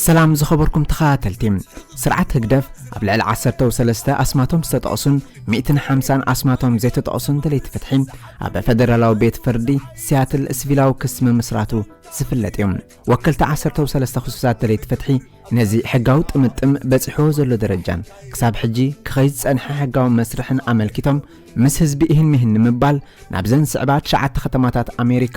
ሰላም ዝኸበርኩም ተኸታተልቲ፣ ስርዓት ህግደፍ ኣብ ልዕሊ ዓሰርተው ሰለስተ ኣስማቶም ዝተጠቕሱን ሚእትን ሓምሳን ኣስማቶም ዘይተጠቕሱን ደለይቲ ፍትሒ ኣብ ፈደራላዊ ቤት ፍርዲ ሲያትል ስቪላዊ ክሲ ምምስራቱ ዝፍለጥ እዩ። ወከልቲ ዓሰርተው ሰለስተ ክሱሳት ደለይቲ ፍትሒ ነዚ ሕጋዊ ጥምጥም በፂሕዎ ዘሎ ደረጃን ክሳብ ሕጂ ክኸይድ ዝፀንሐ ሕጋዊ መስርሕን ኣመልኪቶም ምስ ህዝቢ ይህን ምሂን ንምባል ናብዘን ዝስዕባ ትሽዓተ ከተማታት ኣሜሪካ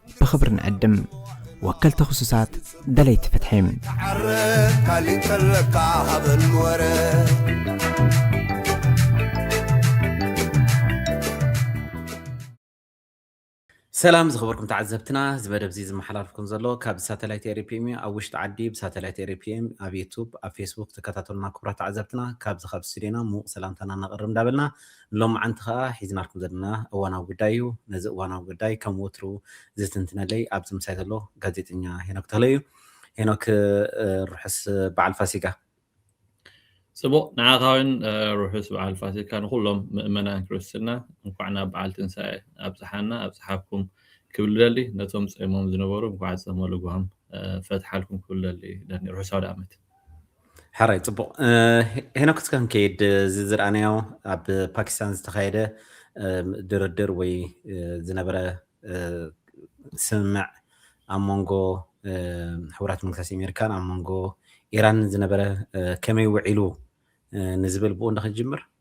ብኽብሪ ንዕድም ወከልቲ ክሱሳት ደለይቲ ፍትሒ። ተዓረቅ ካሊእ እንተለካ ሃበኒ ወረ ሰላም ዝኸበርኩም ተዓዘብትና እዚ መደብ እዚ ዝመሓላለፍኩም ዘሎ ካብ ሳተላይት ኤሪ ፕሪም እዩ ኣብ ውሽጢ ዓዲ ብሳተላይት ኤሪ ፕሪም ኣብ ዩቱብ ኣብ ፌስቡክ ተከታተሉና ክቡራት ተዓዘብትና ካብዚ ካብ ስቱዲዮና ምዉቅ ሰላምታና ነቅርብ እንዳበልና ንሎምዓንቲ ከኣ ሒዝናልኩም ዘለና እዋናዊ ጉዳይ እዩ። ነዚ እዋናዊ ጉዳይ ከም ወትሩ ዝትንትነለይ ኣብዚ ምሳይ ዘሎ ጋዜጠኛ ሄኖክ ተኽለ እዩ። ሄኖክ ርሑስ በዓል ፋሲጋ። ጽቡቕ ንዓኻ ውን ርሑስ በዓል ፋሲካ ንኹሎም ምእመናን ክርስትና እንኳዕ ናብ በዓል ትንሳኤ ኣብጽሓና ኣብጽሓኩም ክብል እደሊ ነቶም ጸይሞም ዝነበሩ እንኳዕ ጸመ ልጓም ፈትሓልኩም ክብል እደሊ ርሑስ ኣውደኣመት። ሕራይ ፅቡቕ ሄኖክ እስከ ክንከይድ እዚ ዝረኣናዮ ኣብ ፓኪስታን ዝተኻየደ ድርድር ወይ ዝነበረ ስምምዕ ኣብ መንጎ ሕቡራት መንግስታት ኣሜሪካን ኣብ መንጎ ኢራንን ዝነበረ ከመይ ውዒሉ ንዝብል ብኡ እንዳ ክንጅምር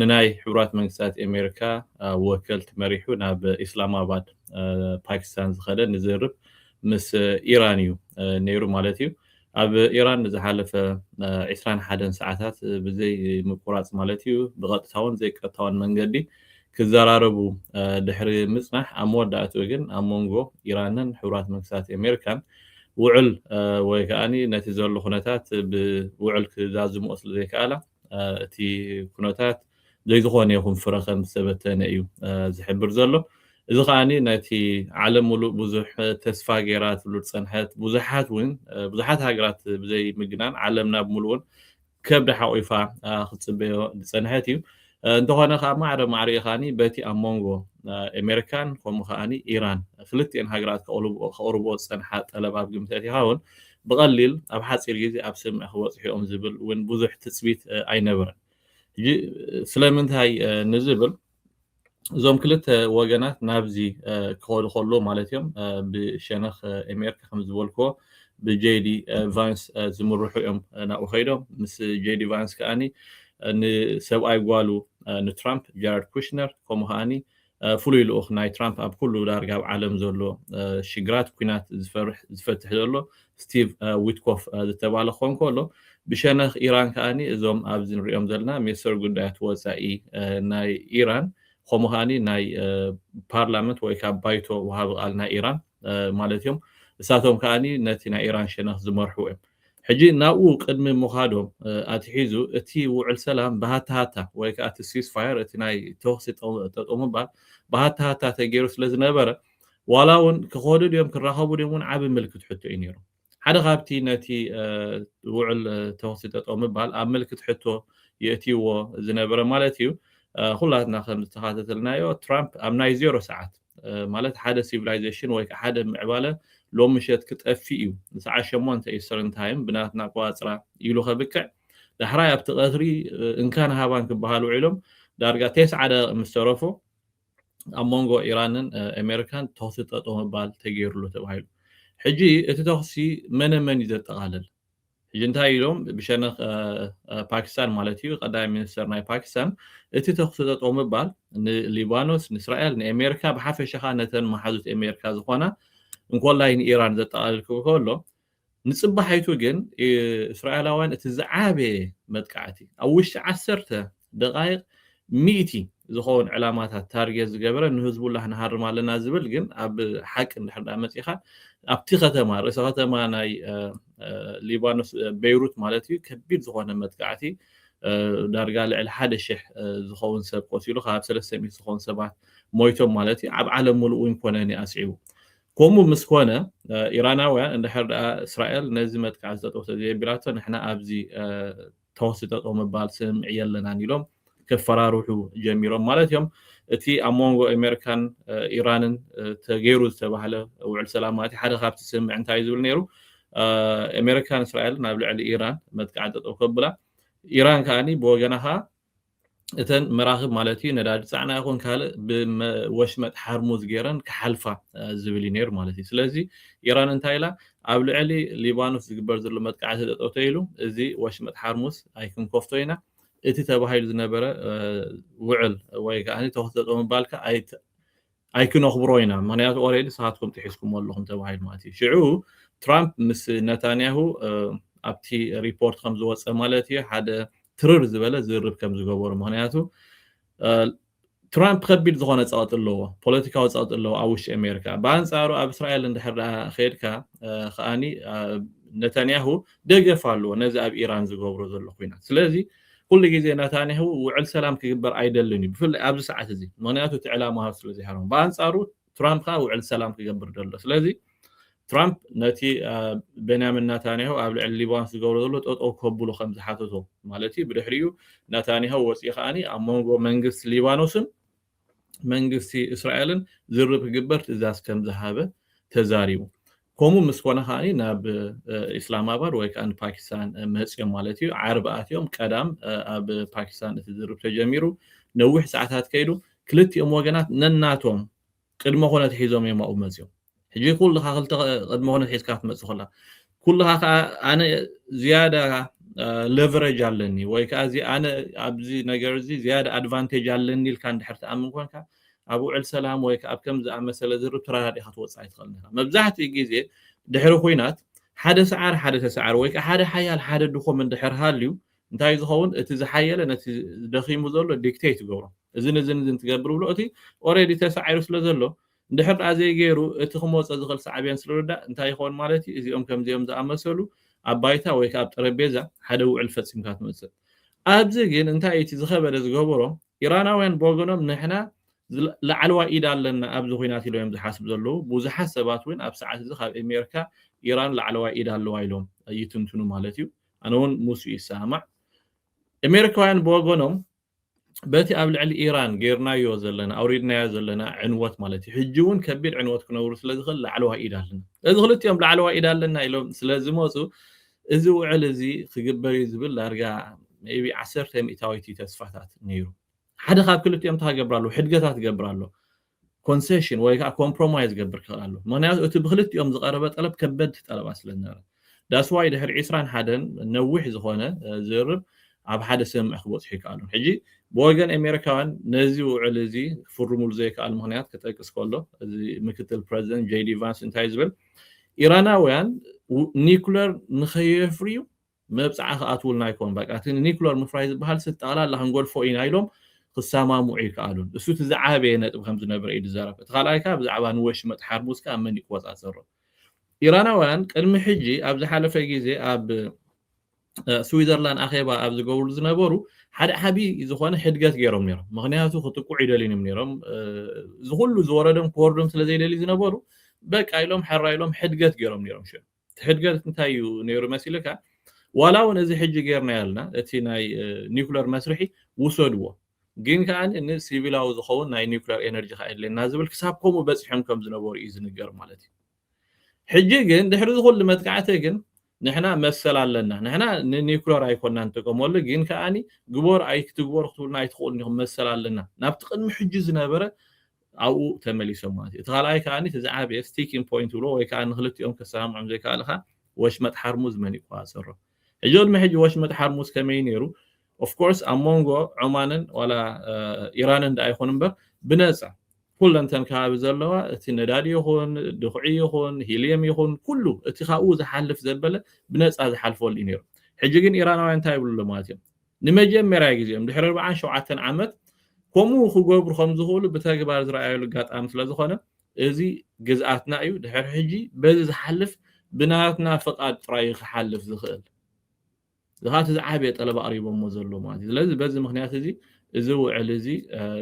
ንናይ ሕቡራት መንግስታት ኣሜሪካ ወከልቲ መሪሑ ናብ ኢስላማባድ ፓኪስታን ዝኸደ ንዝርርብ ምስ ኢራን እዩ ነይሩ ማለት እዩ። ኣብ ኢራን ንዝሓለፈ ዕስራን ሓደን ሰዓታት ብዘይምቁራጽ ማለት እዩ ብቐጥታውን ዘይቀጥታውን መንገዲ ክዘራረቡ ድሕሪ ምጽናሕ ኣብ መወዳእትኡ ግን ኣብ መንጎ ኢራንን ሕቡራት መንግስታት ኣሜሪካን ውዕል ወይ ከኣ ነቲ ዘሎ ኩነታት ብውዕል ክዛዝምኦ ስለዘይከኣላ እቲ ኩነታት ዘይዝኾነ ይኹን ፍረ ከም ዝተበተነ እዩ ዝሕብር ዘሎ። እዚ ከኣ ነቲ ዓለም ምሉእ ብዙሕ ተስፋ ገይራትሉ ዝጸንሐት ብዙሓት እውን ብዙሓት ሃገራት ብዘይ ምግናን ዓለም ናብ ምሉእን ከብዳ ሓቑፋ ክትጽበዮ ዝጸንሐት እዩ። እንተኾነ ከኣ ማዕረ ማዕሪኡ ከኣ በቲ ኣብ መንጎ ኣሜሪካን ከምኡ ከኣ ኢራን ክልቲኤን ሃገራት ከቕርብኦ ዝጸንሓ ጠለብ ኣብ ግምት ኣእቲኻ እውን ብቐሊል ኣብ ሓጺር ግዜ ኣብ ሰምኢ ክበጽሑ እዮም ዝብል እውን ብዙሕ ትጽቢት ኣይነበረን። ሕጂ ስለምንታይ ንዝብል እዞም ክልተ ወገናት ናብዚ ክኸዱ ከለዉ ማለት እዮም ብሸነኽ ኤሜርካ ከም ዝበልክዎ ብጄዲ ቫንስ ዝምርሑ እዮም ናብኡ ከይዶም ምስ ጄዲ ቫንስ ከኣ ንሰብኣይ ጓሉ ንትራምፕ ጃረድ ኩሽነር ከምኡ ከኣ ፍሉይ ልኡኽ ናይ ትራምፕ ኣብ ኩሉ ዳርጋ ኣብ ዓለም ዘሎ ሽግራት ኩናት ዝፈርሕ ዝፈትሕ ዘሎ ስቲቭ ዊትኮፍ ዝተባለ ክኾን ከሎ ብሸነኽ ኢራን ከኣ እዞም ኣብዚ ንሪኦም ዘለና ሚኒስተር ጉዳያት ወጻኢ ናይ ኢራን ከምኡ ከኣ ናይ ፓርላመንት ወይ ካብ ባይቶ ወሃቢ ቃል ናይ ኢራን ማለት እዮም እሳቶም ከኣ ነቲ ናይ ኢራን ሸነኽ ዝመርሑ እዮም ሕጂ ናብኡ ቅድሚ ምዃዶም ኣትሒዙ እቲ ውዕል ሰላም ብሃታሃታ ወይ ከኣ እቲ ሲስፋየር እቲ ናይ ተኹሲ ጠጠው ምባል ብሃታሃታ ተገይሩ ስለ ዝነበረ ዋላ እውን ክኸዱ ድዮም ክራኸቡ ድዮም እውን ዓቢ ምልክት ሕቶ እዩ ነይሩ። ሓደ ካብቲ ነቲ ውዕል ተኹሲ ጠጠው ምባል ኣብ ምልክት ሕቶ የእትይዎ ዝነበረ ማለት እዩ ኩላትና ከም ዝተኻተተልናዮ ትራምፕ ኣብ ናይ ዜሮ ሰዓት ማለት ሓደ ሲቪላይዜሽን ወይ ከኣ ሓደ ምዕባለ ሎም ምሸት ክጠፍእ እዩ ንሰዓት ሸሞንተ ኢስተርን ታይም ብናትና ኣቆጻጽራ ኢሉ ከብቅዕ ዳሕራይ ኣብቲ ቀትሪ እንካን ሃባን ክበሃል ውዒሎም ዳርጋ ቴስዓ ደቂቅ ምስ ተረፎ ኣብ መንጎ ኢራንን ኣሜሪካን ተኹሲ ጠጠው ምባል ተገይሩሉ ተባሂሉ። ሕጂ እቲ ተኹሲ መነ መን እዩ ዘጠቓልል? ሕጂ እንታይ ኢሎም ብሸነኽ ፓኪስታን ማለት እዩ ቀዳማይ ሚኒስተር ናይ ፓኪስታን እቲ ተኹሲ ጠጠው ምባል ንሊባኖስ ንእስራኤል ንኤሜሪካ ብሓፈሻ ከኣ ነተን መሓዙት ኤሜሪካ ዝኾና እንኮላይ ንኢራን ዘጠቓልል ክብል ከሎ ንጽባሒቱ ግን እስራኤላውያን እቲ ዝዓበየ መጥቃዕቲ ኣብ ውሽጢ ዓሰርተ ደቓይቕ ሚእቲ ዝኸውን ዕላማታት ታርጌት ዝገበረ ንህዝቡላህ ንሃርም ኣለና ዝብል ግን ኣብ ሓቂ እንድሕር ድኣ መጺኻ ኣብቲ ከተማ ርእሰ ከተማ ናይ ሊባኖስ ቤይሩት ማለት እዩ ከቢድ ዝኾነ መጥቃዕቲ ዳርጋ ልዕሊ ሓደ ሽሕ ዝኸውን ሰብ ቆሲሉ ካብ ሰለስተ ሚእቲ ዝኾኑ ሰባት ሞይቶም ማለት እዩ ኣብ ዓለም ሙሉእ እውን ኮነ ኣስዒቡ ከምኡ ምስ ኮነ ኢራናውያን እንድሕር ድኣ እስራኤል ነዚ መጥቃዕቲ ጠጠው ተዘየቢላቶ ንሕና ኣብዚ ተኹሲ ጠጠው ምባል ስምምዕ የለናን ኢሎም ከፈራርሑ ጀሚሮም ማለት እዮም። እቲ ኣብ መንጎ ኣሜሪካን ኢራንን ተገይሩ ዝተባህለ ውዕል ሰላም ማለት ሓደ ካብቲ ስምምዕ እንታይ እዩ ዝብል ነይሩ ኣሜሪካን እስራኤልን ኣብ ልዕሊ ኢራን መጥቃዕቲ ጠጠው ከብላ ኢራን ከኣ ብወገና ከኣ እተን መራኽብ ማለት እዩ ነዳዲ ፃዕና ይኹን ካልእ ብወሽመጥ ሓርሙዝ ገይረን ክሓልፋ ዝብል እዩ ነይሩ ማለት እዩ ስለዚ ኢራን እንታይ ኢላ ኣብ ልዕሊ ሊባኖስ ዝግበር ዘሎ መጥቃዕቲ ጠጠው ተኢሉ እዚ ወሽመጥ ሓርሙዝ ኣይክንከፍቶ ኢና እቲ ተባሂሉ ዝነበረ ውዕል ወይ ከዓ ተኹሲ ጠጠው ምባልካ ኣይክነኽብሮ ኢና ምኽንያቱ ኦሬዲ ንስኻትኩም ጥሒስኩሞ ኣለኹም ተባሂሉ ማለት እዩ ሽዑ ትራምፕ ምስ ነታንያሁ ኣብቲ ሪፖርት ከም ዝወፀ ማለት እዩ ሓደ ትርር ዝበለ ዝርርብ ከም ዝገበሩ ምኽንያቱ ትራምፕ ከቢድ ዝኾነ ፀቕጢ ኣለዎ ፖለቲካዊ ፀቕጢ ኣለዎ ኣብ ውሽጢ ኣሜሪካ ብኣንፃሩ ኣብ እስራኤል እንድሕር ደኣ ከድካ ከዓኒ ነታንያሁ ደገፍ ኣለዎ ነዚ ኣብ ኢራን ዝገብሮ ዘሎ ኩናት ስለዚ ኩሉ ግዜ ናታንያሁ ውዕል ሰላም ክግበር ኣይደልን እዩ፣ ብፍላይ ኣብዚ ሰዓት እዚ፣ ምኽንያቱ እቲ ዕላማኡ ስለ ዘይሃረሞ። ብኣንጻሩ ትራምፕ ከኣ ውዕል ሰላም ክገብር ደሎ። ስለዚ ትራምፕ ነቲ ቤንያሚን ናታንያሁ ኣብ ልዕሊ ሊባኖስ ዝገብሮ ዘሎ ጠጠው ከብሉ ከም ዝሓተቶ ማለት እዩ፣ ብድሕሪኡ ናታንያሁ ወጺኡ ከኣ ኣብ መንጎ መንግስቲ ሊባኖስን መንግስቲ እስራኤልን ዝርርብ ክግበር ትእዛዝ ከም ዝሃበ ተዛሪቡ። ከምኡ ምስ ኮነ ከኣ ናብ ኢስላማባድ ወይ ከኣ ንፓኪስታን መጽዮም ማለት እዩ። ዓርቢ ኣትዮም ቀዳም ኣብ ፓኪስታን እቲ ዝርርብ ተጀሚሩ። ነዊሕ ሰዓታት ከይዱ። ክልቲኦም ወገናት ነናቶም ቅድመ ኩነት ሒዞም እዮም ኣብኡ መጽዮም። ሕጂ ኩልኻ ክልተ ቅድመ ኩነት ሒዝካ ክትመጽእ ከላ ኩልኻ ከኣ ኣነ ዝያዳ ለቨረጅ ኣለኒ ወይ ከኣ እዚ ኣነ ኣብዚ ነገር እዚ ዝያዳ ኣድቫንቴጅ ኣለኒ ኢልካ እንድሕር ትኣምን ኮንካ ኣብ ውዕል ሰላም ወይ ከኣ ኣብ ከም ዝኣመሰለ ዝርብ ተረዳዲእካ ትወጽእ ኣይትኽእልን ኢኻ መብዛሕትኡ ግዜ ድሕሪ ኩናት ሓደ ሰዓር ሓደ ተሰዓር ወይ ከዓ ሓደ ሓያል ሓደ ድኾም እንድሕር ሃልዩ እንታይ ዝኸውን እቲ ዝሓየለ ነቲ ደኺሙ ዘሎ ዲክቴት ይገብሮ እዝን እዝን እዝን ትገብር ብሎ እቲ ኦረዲ ተሳዒሩ ስለ ዘሎ እንድሕር ደኣ ዘይገይሩ፣ እቲ ክመጾ ዝኽእል ሳዕቤን ስርርዳእ እንታይ ይኸውን ማለት እዩ? እዚኦም ከምዚኦም ዝኣመሰሉ ኣብ ባይታ ወይ ከኣ ኣብ ጠረጴዛ ሓደ ውዕል ፈጺምካ ትመጽእ። ኣብዚ ግን እንታይ እዩ እቲ ዝኸበደ ዝገበሮ፣ ኢራናውያን ብወገኖም ንሕና ላዕለዋይ ኢድ ኣለና ኣብዚ ኹናት ኢሎም እዮም ዝሓስቡ ዘለዉ። ብዙሓት ሰባት እውን ኣብ ሰዓት እዚ ካብ ኤሜርካ ኢራን ላዕለዋይ ኢድ ኣለዋ ኢሎም ይትንትኑ ማለት እዩ። ኣነ እውን ምስኡ ይሰማማዕ። ኤሜርካውያን ብወገኖም በቲ ኣብ ልዕሊ ኢራን ጌርናዮ ዘለና ኣውሪድናዮ ዘለና ዕንወት ማለት እዩ ሕጂ ውን ከቢድ ዕንወት ክነውርድ ስለ ዝኽእል ላዕለዋይ ኢድ ኣለና ስለዚ ክልቲኦም ላዕለዋይ ኢድ ኣለና ኢሎም ስለ ዝመጹ እዚ ውዕል እዚ ክግበር እዩ ዝብል ዳርጋ ቢ ዓሰርተ ሚእታዊት እዩ ተስፋታት ነይሩ ሓደ ካብ ክልቲኦም እንታይ ክገብር ኣለዎ ሕድገታት ክገብር ኣለዎ ኮንሰሽን ወይ ከኣ ኮምፕሮማይዝ ዝገብር ክኽእል ኣለዎ ምኽንያቱ እቲ ብክልቲኦም ዝቐረበ ጠለብ ከበድቲ ጠለባት ስለ ዝነበረ ዳስ ዋይ ድሕሪ ዕስራን ሓደን ነዊሕ ዝኾነ ዝርርብ ኣብ ሓደ ስምምዕ ክበጽሑ ይከኣሉ ሕጂ ብወገን ኣሜሪካውያን ነዚ ውዕል እዚ ክፍርሙሉ ዘይከኣሉ ምኽንያት ክጠቅስ ከሎ እዚ ምክትል ፕረዚደንት ጄዲ ቫንስ እንታይ ዝብል ኢራናውያን ኒኩለር ንኸየፍርዩ መብጽዓ ክኣትዉልና ኣይኮኑን በቃ እቲ ንኒኩለር ምፍራይ ዝበሃል ስብ ጠቕላላ ክንገድፎ ኢና ኢሎም ክሰማምዑ ኣይከኣሉን። እሱ እቲ ዝዓበየ ነጥቢ ከም ዝነበረ እዩ ዝዛረብ። እቲ ካልኣይ ከኣ ብዛዕባ ንወሽመጥ ሓርሙዝ ከኣ መን ይቆጻጸሮ። ኢራናውያን ቅድሚ ሕጂ ኣብ ዝሓለፈ ግዜ ኣብ ስዊዘርላንድ ኣኼባ ኣብ ዝገብርሉ ዝነበሩ ሓደ ዓቢ ዝኾነ ሕድገት ገይሮም ነይሮም። ምኽንያቱ ክጥቅዑ ኣይደልዩን እዮም ነይሮም። እዚ ኩሉ ዝወረዶም ክወርዶም ስለ ዘይደልዩ ዝነበሩ በቃ ኢሎም ሐራ ኢሎም ሕድገት ገይሮም ነይሮም ሽዑ። እቲ ሕድገት እንታይ እዩ ነይሩ መሲልካ ዋላ እውን እዚ ሕጂ ጌርናዮ ኣልና እቲ ናይ ኒኩለር መስርሒ ውሰድዎ ግን ከኣ ንሲቪላዊ ዝኸውን ናይ ኒኩለር ኤነርጂ ከኣ የድልየና ዝብል ክሳብ ከምኡ በጺሖም ከም ዝነበሩ እዩ ዝንገር ማለት እዩ ሕጂ ግን ድሕሪ እዚ ኩሉ መጥቃዕቲ ግን ንሕና መሰል ኣለና ንሕና ንኒኩለር ኣይኮና ንጥቀመሉ ግን ከኣ ግበር ኣይክትግበሩ ክትብሉና ኣይትኽእሉን ኢኹም መሰል ኣለና ናብቲ ቅድሚ ሕጂ ዝነበረ ኣብኡ ተመሊሶም ማለት እዩ። እቲ ካልኣይ ከኣ እቲ ዝዓበየ ስቲኪንግ ፖይንት ዝብልዎ ወይ ከኣ ንኽልቲኦም ከሰማምዖም ዘይከኣልኻ ወሽመጥ ሓርሙዝ መን ይቆጻጸሮ? ሕጂ ቅድሚ ሕጂ ወሽመጥ ሓርሙዝ ከመይ እዩ ነይሩ? ኦፍ ኮርስ ኣብ ሞንጎ ዖማንን ዋላ ኢራንን ደኣ ይኹን እምበር ብነጻ ኩለን እተን ከባቢ ዘለዋ እቲ ነዳዲ ይኹን ድኹዒ ይኹን ሂልየም ይኹን ኩሉ እቲ ካብኡ ዝሓልፍ ዘበለ ብነጻ ዝሓልፈሉ እዩ ነይሩ። ሕጂ ግን ኢራናውያን እንታይ ይብሉ ኣለዉ ማለት እዮም? ንመጀመርያ ግዜኦም ድሕሪ ኣርብዓን ሸውዓተን ዓመት ከምኡ ክገብሩ ከም ዝኽእሉ ብተግባር ዝረኣዩሉ ኣጋጣሚ ስለ ዝኾነ፣ እዚ ግዝኣትና እዩ፣ ድሕሪ ሕጂ በዚ ዝሓልፍ ብናትና ፍቓድ ጥራይ እዩ ክሓልፍ ዝኽእል። እዚ ከኣ እቲ ዝዓበየ ጠለብ ኣቕሪቦሞ ዘለዉ ማለት እዩ። ስለዚ በዚ ምኽንያት እዚ፣ እዚ ውዕል እዚ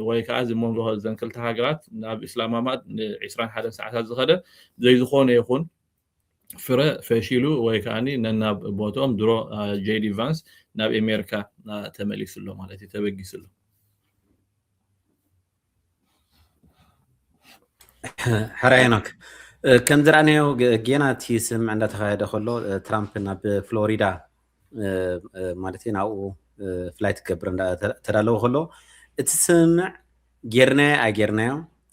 ወይ ከኣ እዚ መንጎ እዘን ክልተ ሃገራት ናብ ኢስላማማድ ንዒስራን ሓደን ሰዓታት ዝኸደ ዘይዝኾነ ይኹን፣ ፍረ ፈሺሉ ወይ ከዓ ነናብ ቦትኦም ድሮ ጄዲ ቫንስ ናብ ኤሜሪካ ተመሊሱ ኣሎ ማለት እዩ ተበጊሱ ኣሎ ሕራይ ኖክ ከም ዝረኣናዮ ጌና እቲ ስምምዕ እንዳተካየደ ከሎ ትራምፕ ናብ ፍሎሪዳ ማለት እዩ ናብኡ ፍላይ ትገብር ተዳለወ ከሎ እቲ ስምምዕ ጌርናዮ ኣይጌርናዮ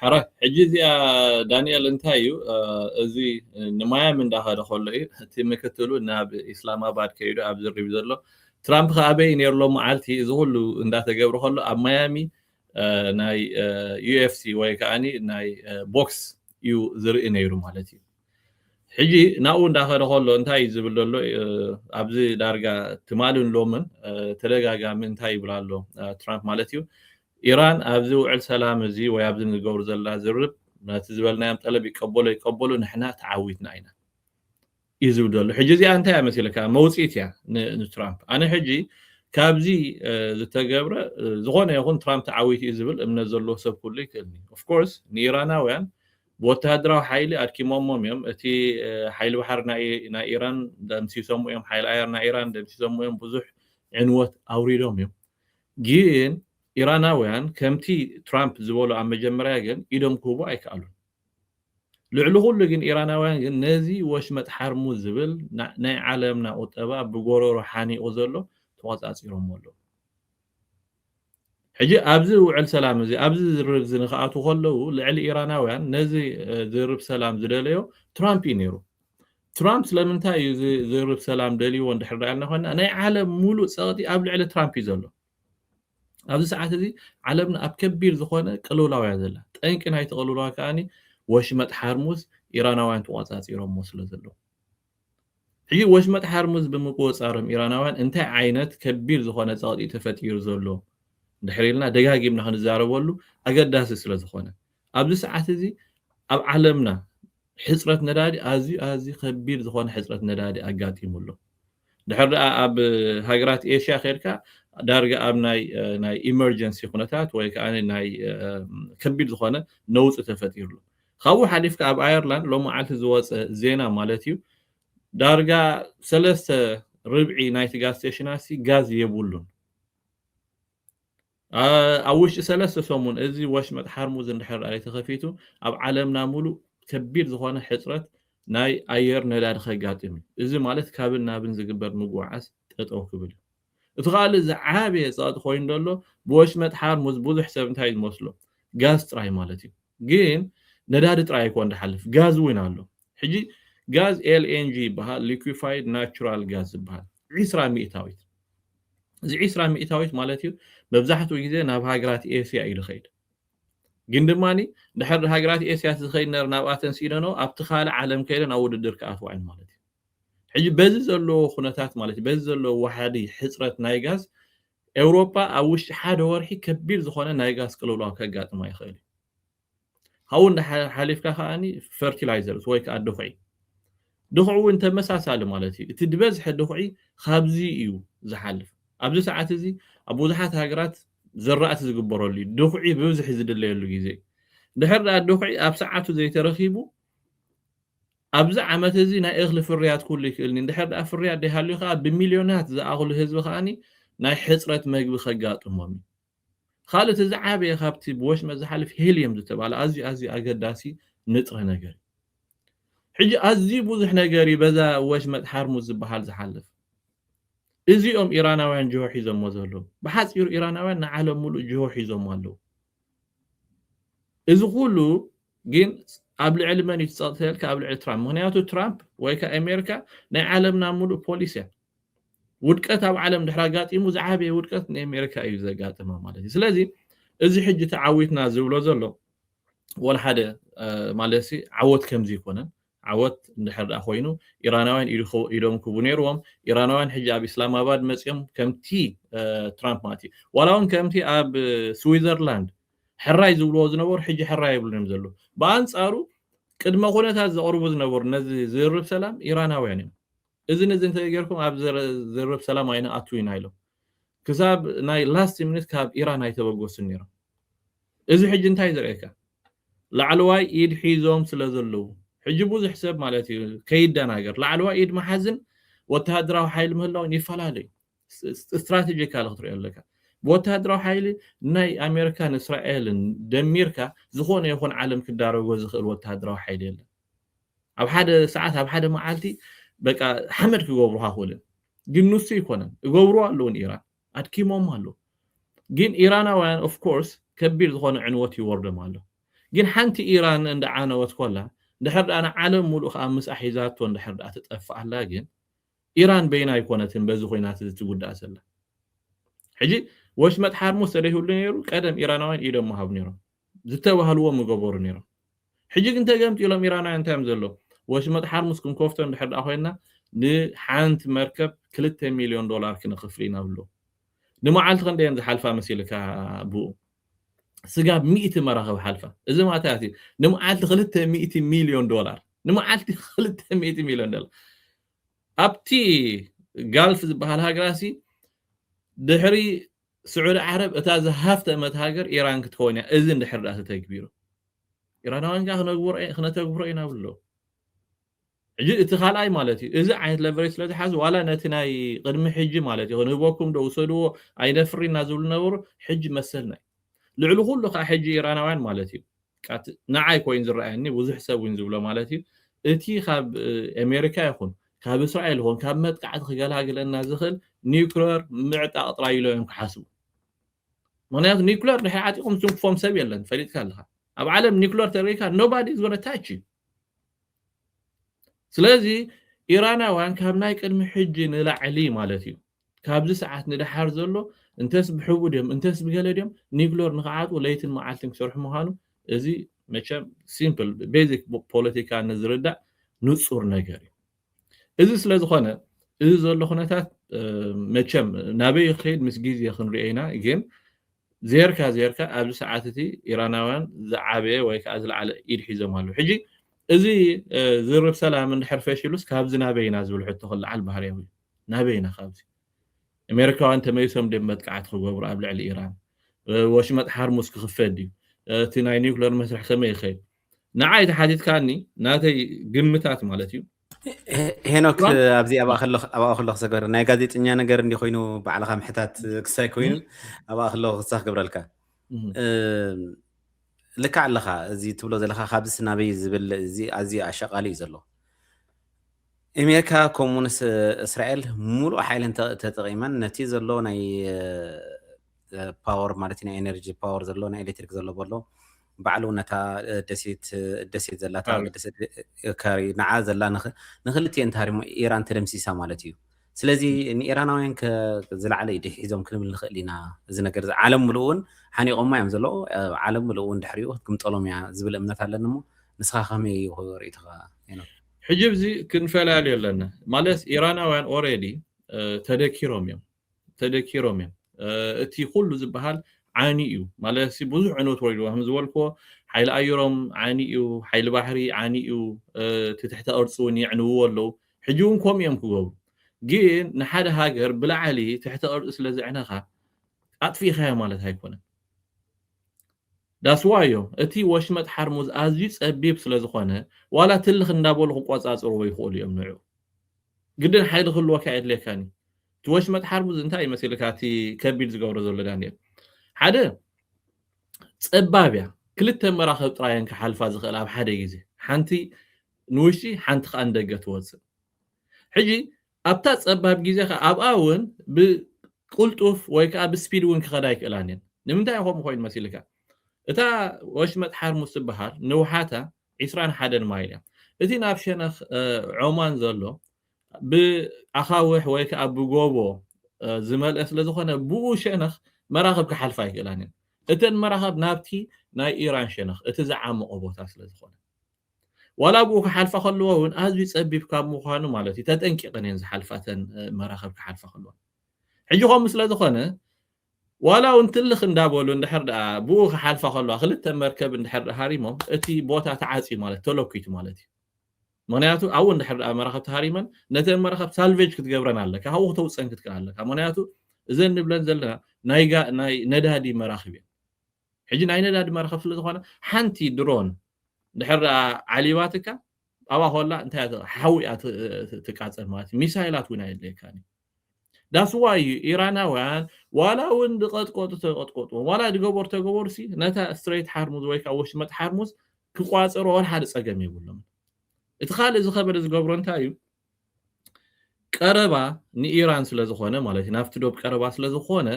ሕራይ ሕጂ እዚኣ ዳንኤል እንታይ እዩ እዚ ንማያሚ እንዳኸደ ከሎ እዩ እቲ ምክትሉ ናብ ኢስላማባድ ከይዱ ኣብ ዝርብ ዘሎ ትራምፕ ከ ኣበይ ነይሩ ሎ መዓልቲ እዚ ኩሉ እንዳተገብረ ከሎ ኣብ ማያሚ ናይ ዩኤፍሲ ወይ ከዓኒ ናይ ቦክስ እዩ ዝርኢ ነይሩ ማለት እዩ ሕጂ ናብኡ እንዳኸደ ከሎ እንታይ እዩ ዝብል ዘሎ ኣብዚ ዳርጋ ትማልን ሎምን ተደጋጋሚ እንታይ ይብል ኣሎ ትራምፕ ማለት እዩ ኢራን ኣብዚ ውዕል ሰላም እዚ ወይ ኣብዚ ንገብሮ ዘለና ዝርርብ ነቲ ዝበልናዮም ጠለብ ይቀበሎ ይቀበሎ ንሕና ተዓዊትና ኢና እዩ ዝብል ዘሎ ሕጂ እዚኣ እንታይ እያ መሲለካ መውፅኢት እያ ንትራምፕ ኣነ ሕጂ ካብዚ ዝተገብረ ዝኾነ ይኹን ትራምፕ ተዓዊቱ እዩ ዝብል እምነት ዘለዎ ሰብ ኩሉ ይክእልኒ ኦፍኮርስ ንኢራናውያን ብወተሃደራዊ ሓይሊ ኣድኪሞሞም እዮም። እቲ ሓይሊ ባሕሪ ናይ ኢራን ደምሲሶም እዮም። ሓይሊ ኣየር ናይ ኢራን ደምሲሶም እዮም። ብዙሕ ዕንወት ኣውሪዶም እዮም። ግን ኢራናውያን ከምቲ ትራምፕ ዝበሎ ኣብ መጀመርያ ግን ኢዶም ክህቡ ኣይከኣሉን። ልዕሊ ኩሉ ግን ኢራናውያን ግን ነዚ ወሽመጥ ሓርሙዝ ዝብል ናይ ዓለምና ቁጠባ ብጎረሮ ሓኒቑ ዘሎ ተቖጻጺሮሞ ኣለዉ። ሕጂ ኣብዚ ውዕል ሰላም እዚ ኣብዚ ዝርርብ እዚ ንክኣትዉ ከለዉ ልዕሊ ኢራናውያን ነዚ ዝርርብ ሰላም ዝደለዮ ትራምፕ እዩ ነይሩ። ትራምፕ ስለምንታይ እዩ እዚ ዝርርብ ሰላም ደልይዎ እንድሕር ዳኢልና ኮይና ናይ ዓለም ሙሉእ ጸቕጢ ኣብ ልዕሊ ትራምፕ እዩ ዘሎ። ኣብዚ ሰዓት እዚ ዓለምና ኣብ ከቢድ ዝኾነ ቅልውላው እያ ዘላ። ጠንቂ ናይቲ ቅልውላው ከኣ ወሽመጥ ሓርሙዝ ኢራናውያን ተቖጻጺሮምዎ ስለዘለዉ። ሕጂ ወሽመጥ ሓርሙዝ ብምቁጽጻሮም ኢራናውያን እንታይ ዓይነት ከቢድ ዝኾነ ጸቕጢ'ዩ ተፈጢሩ ዘሎ እንድሕር ኢልና ደጋጊምና ክንዛረበሉ ኣገዳሲ ስለ ዝኾነ። ኣብዚ ሰዓት እዚ ኣብ ዓለምና ሕጽረት ነዳዲ ኣዝዩ ኣዝዩ ከቢድ ዝኾነ ሕጽረት ነዳዲ ኣጋጢሙ ኣሎ። ድሕር ደኣ ኣብ ሃገራት ኤሽያ ኬድካ ዳርጋ ኣብ ናይ ናይ ኢመርጀንሲ ኩነታት ወይ ከኣ ናይ ከቢድ ዝኾነ ነውጺ ተፈጢሩ ኣሎ። ካብኡ ሓሊፍካ ኣብ ኣየርላንድ ሎምዓልቲ ዝወጸ ዜና ማለት'ዩ ዳርጋ ሰለስተ ርብዒ ናይቲ ጋዝ ስቴሽናትሲ ጋዝ የብሉን። ኣብ ውሽጢ ሰለስተ ሰሙን እዚ ወሽመጥ ሓርሙዝ እንድሕር ደኣ'ዩ ተኸፊቱ ኣብ ዓለምና ምሉእ ከቢድ ዝኾነ ሕጽረት ናይ ኣየር ነዳዲ ከጋጥም እዩ። እዚ ማለት ካብን ናብን ዝግበር ምጉዕዓዝ ጠጠው ክብል እዩ። እቲ ካልእ ዝዓበየ ጸቕጢ ኮይኑ ዘሎ ብወሽመጥ ሓርሙዝ ብዙሕ ሰብ እንታይ እዩ ዝመስሎ ጋዝ ጥራይ ማለት እዩ ግን ነዳዲ ጥራይ ኣይኮን ዝሓልፍ ጋዝ እውን ኣሎ ሕጂ ጋዝ LNG ይበሃል Liquefied Natural Gas ዝብሃል ዒስራ ሚእታዊት እዚ ዒስራ ሚእታዊት ማለት እዩ መብዛሕትኡ ግዜ ናብ ሃገራት ኤስያ እዩ ዝኸይድ ግን ድማ ድሕር ሃገራት ኤስያ ዝኸይድ ነር ናብኣተን ሲኢነኖ ኣብቲ ካልእ ዓለም ከይደን ኣብ ውድድር ክኣትዋ እየን ማለት እዩ ሕጂ በዚ ዘለዎ ኩነታት ማለት እዩ በዚ ዘለዎ ዋሕዲ ሕጽረት ናይ ጋዝ ኤውሮጳ ኣብ ውሽጢ ሓደ ወርሒ ከቢድ ዝኾነ ናይ ጋዝ ቅልውላው ከጋጥማ ይኽእል እዩ ካብኡ እንዳ ሓሊፍካ ከኣኒ ፈርቲላይዘርስ ወይ ከዓ ድኹዒ ድኹዒ እውን ተመሳሳሊ ማለት እዩ እቲ ዝበዝሐ ድኹዒ ካብዚ እዩ ዝሓልፍ ኣብዚ ሰዓት እዚ ኣብ ብዙሓት ሃገራት ዘራእቲ ዝግበረሉ እዩ ድኹዒ ብብዝሒ ዝድለየሉ ግዜ እዩ ድሕር ድኣ ድኹዒ ኣብ ሰዓቱ ዘይተረኺቡ ኣብዚ ዓመት እዚ ናይ እኽሊ ፍርያት ኩሉ ይክእልኒ እንድሕር ድኣ ፍርያት ደይሃልዩ ከኣ ብሚልዮናት ዝኣኽሉ ህዝቢ ከኣ ናይ ሕጽረት መግቢ ከጋጥሞም እዩ። ካልእ እቲ ዝዓበየ ካብቲ ብወሽመጥ ዝሓልፍ ሄልየም ዝተባህለ ኣዝዩ ኣዝዩ ኣገዳሲ ንጥረ ነገር እዩ። ሕጂ ኣዝዩ ብዙሕ ነገር እዩ በዛ ወሽመጥ ሓርሙዝ ዝበሃል ዝሓልፍ። እዚ እዮም ኢራናውያን ጅሆ ሒዞሞ ዘለዉ። ብሓጺሩ ኢራናውያን ንዓለም ምሉእ ጅሆ ሒዞሞ ኣለዉ። እዚ ኩሉ ግን ኣብ ልዕሊ መን እዩ እቲ ጸቕጢ ተልካ ኣብ ልዕሊ ትራምፕ ምክንያቱ ትራምፕ ወይ ከ ኣሜሪካ ናይ ዓለምና ሙሉእ ፖሊስ እያ ውድቀት ኣብ ዓለም ድሕሪ ኣጋጢሙ ዝዓበየ ውድቀት ንኣሜሪካ እዩ ዘጋጥማ ማለት እዩ ስለዚ እዚ ሕጂ ተዓዊትና ዝብሎ ዘሎ ወላ ሓደ ማለት ሲ ዓወት ከምዚ ይኮነን ዓወት እንድሕር ደኣ ኮይኑ ኢራናውያን ኢዶም ክቡ ነይርዎም ኢራናውያን ሕጂ ኣብ ኢስላማባድ መፅኦም ከምቲ ትራምፕ ማለት እዩ ዋላ እውን ከምቲ ኣብ ስዊዘርላንድ ሕራይ ዝብልዎ ዝነበሩ ሕጂ ሕራይ ኣይብሉን እዮም ዘለዉ። ብኣንጻሩ ቅድመ ኩነታት ዘቕርቡ ዝነበሩ ነዚ ዝርርብ ሰላም ኢራናውያን እዮም። እዝን እዝን እንተዘይገርኩም ኣብ ዝርርብ ሰላም ኣይንኣቱ ኢና ኢሎም ክሳብ ናይ ላስት ሚኒት ካብ ኢራን ኣይተበገሱን ነይሮም። እዚ ሕጂ እንታይ እዩ ዘርእየካ? ላዕለዋይ ኢድ ሒዞም ስለ ዘለዉ ሕጂ ብዙሕ ሰብ ማለት እዩ ከይደናገር ላዕለዋይ ኢድ ምሓዝን ወተሃደራዊ ሓይሊ ምህላውን ይፈላለ እዩ። ስትራተጂካሊ ክትሪኦ ኣለካ ብወተሃደራዊ ሓይሊ ናይ ኣሜሪካን እስራኤልን ደሚርካ ዝኾነ ይኹን ዓለም ክዳረጎ ዝኽእል ወተሃደራዊ ሓይሊ የለን ኣብ ሓደ ሰዓት ኣብ ሓደ መዓልቲ በቃ ሓመድ ክገብሩካ ክእልን ግን ንሱ ይኮነን እገብሩ ኣለውን ኢራን ኣድኪሞም ኣሎ ግን ኢራናውያን ኦፍ ኮርስ ከቢድ ዝኾነ ዕንወት ይወርዶም ኣሎ ግን ሓንቲ ኢራን እንዳ ዓነወት ኮላ ድሕር ድኣ ንዓለም ሙሉእ ከዓ ምስኣ ሒዛቶ እንድሕር ድኣ ትጠፍእ ኣላ ግን ኢራን በይና ኣይኮነትን በዚ ኹናት እዚ ትጉዳእ ዘላ። ሕጂ ወሽመጥ ሓርሙዝ ተደይህሉ ነይሩ ቀደም ኢራናውያን ኢዶም ምሃቡ ነይሮም። ዝተባህልዎ ምገበሩ ነይሮም። ሕጂ ግን ተገምጢሎም ኢራናውያን እንታይ እዮም ዘለዉ ወሽመጥ ሓርሙዝ ክንከፍቶ እንድሕር ደኣ ኮይንና ንሓንቲ መርከብ ክልተ ሚልዮን ዶላር ክነኽፍል ኢና ይብሉ። ንመዓልቲ ክንደይ እየን ዝሓልፋ መሲልካ ብኡ። ስጋብ ሚእቲ መራኽብ ሓልፋ። እዚ ማእታያት እዩ። ንመዓልቲ ክልተ ሚእቲ ሚልዮን ዶላር። ንመዓልቲ ክልተ ሚእቲ ሚልዮን ዶላር። ኣብቲ ጋልፍ ዝበሃል ሃገራሲ ድሕሪ ስዑዲ ዓረብ እታ ዝሃፍተመት ሃገር ኢራን ክትኸውን እያ። እዚ እንድሕር ድኣ ተተግቢሩ ኢራናውያን ከኣ ክነተግብሮ ኢና ይብሉ ኣለዉ። ሕጂ እቲ ካልኣይ ማለት እዩ እዚ ዓይነት ለቨሬጅ ስለ ዝሓዙ ዋላ ነቲ ናይ ቅድሚ ሕጂ ማለት እዩ ክንህበኩም ዶ ውሰድዎ ኣይነፍሪ እና ዝብሉ ነበሩ ሕጂ መሰልና እዩ ልዕሊ ኩሉ ከዓ ሕጂ ኢራናውያን ማለት እዩ ንዓይ ኮይኑ ዝረኣየኒ ብዙሕ ሰብ እውን ዝብሎ ማለት እዩ እቲ ካብ ኣሜሪካ ይኹን ካብ እስራኤል ይኹን ካብ መጥቃዕቲ ክገላግለና ዝኽእል ኒውክለር ምዕጣቕ ጥራይ ኢሎም እዮም ክሓስቡ ምክንያቱ ኒውክለር ድሕሪ ዓጢቖም ዝትንክፎም ሰብ የለን ፈሊጥካ ኣለካ ኣብ ዓለም ኒውክለር ተሪካ ኖባዲ ዝጎነ ታች እዩ ስለዚ ኢራናውያን ካብ ናይ ቅድሚ ሕጂ ንላዕሊ ማለት እዩ ካብዚ ሰዓት ንደሓር ዘሎ እንተስ ብሕቡእ ድዮም እንተስ ብገለ ድዮም ኒክሎር ንክዓጥቁ ለይትን መዓልትን ክሰርሑ ምዃኑ እዚ መቸም ሲምፕል ቤዚክ ፖለቲካ ንዝርዳእ ንጹር ነገር እዩ። እዚ ስለ ዝኾነ እዚ ዘሎ ኩነታት መቸም ናበይ ክኸይድ ምስ ግዜ ክንሪኦ ኢና ግን ዜርካ ዜርካ ኣብዚ ሰዓት እቲ ኢራናውያን ዝዓበየ ወይ ከዓ ዝለዓለ ኢድ ሒዞም ኣለዉ ሕጂ እዚ ዝርብ ሰላም እንድሕር ፈሽሉስ ካብዚ ናበይ ኢና ዝብል ሕቶ ክለዓል ባህርያዊ እዩ ናበይ ኢና ካብዚ ኣሜሪካውያን ተመሊሶም ድም መጥቃዕቲ ክገብሩ ኣብ ልዕሊ ኢራን ወሽመጥ ሓርሙስ ክኽፈት ድዩ እቲ ናይ ኒውክለር መስርሕ ከመይ ይኸይድ ንዓይ ተሓቲትካኒ ናተይ ግምታት ማለት እዩ ሄኖክ ኣብዚ ኣብኣ ከሎ ክሰገር ናይ ጋዜጠኛ ነገር እንዲ ኮይኑ ባዕልካ ምሕታት ክሳይ ኮይኑ ኣብኣ ከሎ ክሳ ክገብረልካ ልክዕ ኣለካ እዚ ትብሎ ዘለካ ካብዚ ስናበይ ዝብል እዚ ኣዝዩ ኣሸቃሊ እዩ ዘሎ ኣሜሪካ ከምኡውን እስራኤል ሙሉእ ሓይለን ተጠቂመን ነቲ ዘሎ ናይ ፓወር ማለት ናይ ኤነርጂ ፓወር ዘሎ ናይ ኤሌክትሪክ ዘሎ በሎ ባዕሉ ነታ ደሴት ደሴት ዘላታ ካሪ። ደሴት ካሪ ንዓ ዘላ ንኽ- ንክልቲኤን ታሪሞ ኢራን ተደምሲሳ ማለት እዩ ስለዚ ንኢራናውያን ከ ዝለዓለ ኢድ ሒዞም ክንብል ንኽእል ኢና እዚ ነገር እዚ ዓለም ምሉእ እውን ሓኒቖማ እዮም ዘለዉ እ፣ ዓለም ምሉእ እውን ድሕሪኡ ክትግምጠሎም እያ ዝብል እምነት ኣለኒ እሞ ንስኻ ከመይ እዩ ርእይቶኻ ሄኖክ? ሕጂ ኣብዚ ክንፈላለዩ ኣለና ማለት ኢራናውያን ኦሬዲ ተደኪሮም እዮም ተደኪሮም እዮም እቲ ኩሉ ዝብሃል ዓንዩ እዩ ማለትሲ ብዙሕ ዕንወት ወሪድዎ ከም ዝበልክዎ ሓይሊ ኣየሮም ዓንዩ እዩ ሓይሊ ባሕሪ ዓንዩ እዩ እቲ ትሕተ ቅርፂ እውን የዕንውዎ ኣለው ሕጂ እውን ከምኡ እዮም ክገብሩ ግን ንሓደ ሃገር ብላዕሊ ትሕተ ቅርፂ ስለ ዘዕነኻ ኣጥፊእኻዮ ማለት ኣይኮነን ዳስዋ እዮም እቲ ወሽመጥ ሓርሙዝ ኣዝዩ ፀቢብ ስለ ዝኾነ ዋላ ትልኽ እንዳበሉ ክቆፃፅርዎ ይኽእሉ እዮም ንዑ ግድን ሓይሊ ክህልወካ የድልየካን እዩ። እቲ ወሽመጥ ሓርቡዝ እንታይ እዩ መሲልካ እቲ ከቢድ ዝገብሮ ዘሎ ዳንኤል? ሓደ ጸባብ እያ፣ ክልተ መራኽብ ጥራይ እየን ክሓልፋ ዝኽእላ ኣብ ሓደ ግዜ፣ ሓንቲ ንውሽጢ ሓንቲ ከኣ ንደገ ትወጽእ። ሕጂ ኣብታ ጸባብ ግዜ ከኣ ኣብኣ እውን ብቅልጡፍ ወይ ከኣ ብስፒድ እውን ክኸዳ ኣይክእላን እየን። ንምንታይ እዩ ከምኡ ኮይኑ መሲልካ? እታ ወሽመጥ ሓርሙዝ ትበሃል ንውሓታ ዒስራን ሓደን ማይል እያ። እቲ ናብ ሸነኽ ዖማን ዘሎ ብኣኻውሕ ወይ ከኣ ብጎቦ ዝመልአ ስለ ዝኾነ ብኡ ሸነኽ መራኽብ ክሓልፋ ኣይክእላን እየን። እተን መራኽብ ናብቲ ናይ ኢራን ሸነኽ እቲ ዝዓሞቐ ቦታ ስለ ዝኾነ ዋላ ብኡ ክሓልፋ ከለዎ እውን ኣዝዩ ጸቢብ ካብ ምዃኑ ማለት እዩ ተጠንቂቐን እየን ዝሓልፋ እተን መራኽብ ክሓልፋ ከለዋ። ሕጂ ከምኡ ስለ ዝኾነ ዋላ እውን ትልኽ እንዳበሉ እንድሕር ድኣ ብኡ ክሓልፋ ከለዋ ክልተ መርከብ እንድሕር ድኣ ሃሪሞም እቲ ቦታ ተዓጽዩ ማለት እዩ ተለኲቱ ማለት እዩ ምኽንያቱ ኣብኡ እንድሕር ድኣ መራኽብ ተሃሪመን ነተን መራኽብ ሳልቬጅ ክትገብረን ኣለካ ካብኡ ክተውጽእን ክትክእል ኣለካ ምኽንያቱ እዘን ንብለን ዘለና ናይ ናይ ነዳዲ መራኽብ እየን ሕጂ ናይ ነዳዲ መርኸፍሊ ዝኾነ ሓንቲ ድሮን ድሕር ዓሊባትካ ኣብኣ ኮላ እንታይ እያ ሓዊ እያ ትቃጸል ማለት እዩ ሚሳይላት እውን ኣየድልየካን እዩ ዳስዋ እዩ ኢራናውያን ዋላ እውን ድቐጥቀጡ ተቐጥቀጥዎም ዋላ ድገበሩ ተገበሩ ሲ ነታ ስትሬት ሓርሙዝ ወይ ከዓ ወሽመጥ ሓርሙዝ ክቋፀሮ ወላ ሓደ ፀገም የብሎም እቲ ካልእ ዝኸበደ ዝገብሮ እንታይ እዩ ቀረባ ንኢራን ስለ ዝኾነ ማለት እዩ ናብቲ ዶብ ቀረባ ስለ ዝኾነ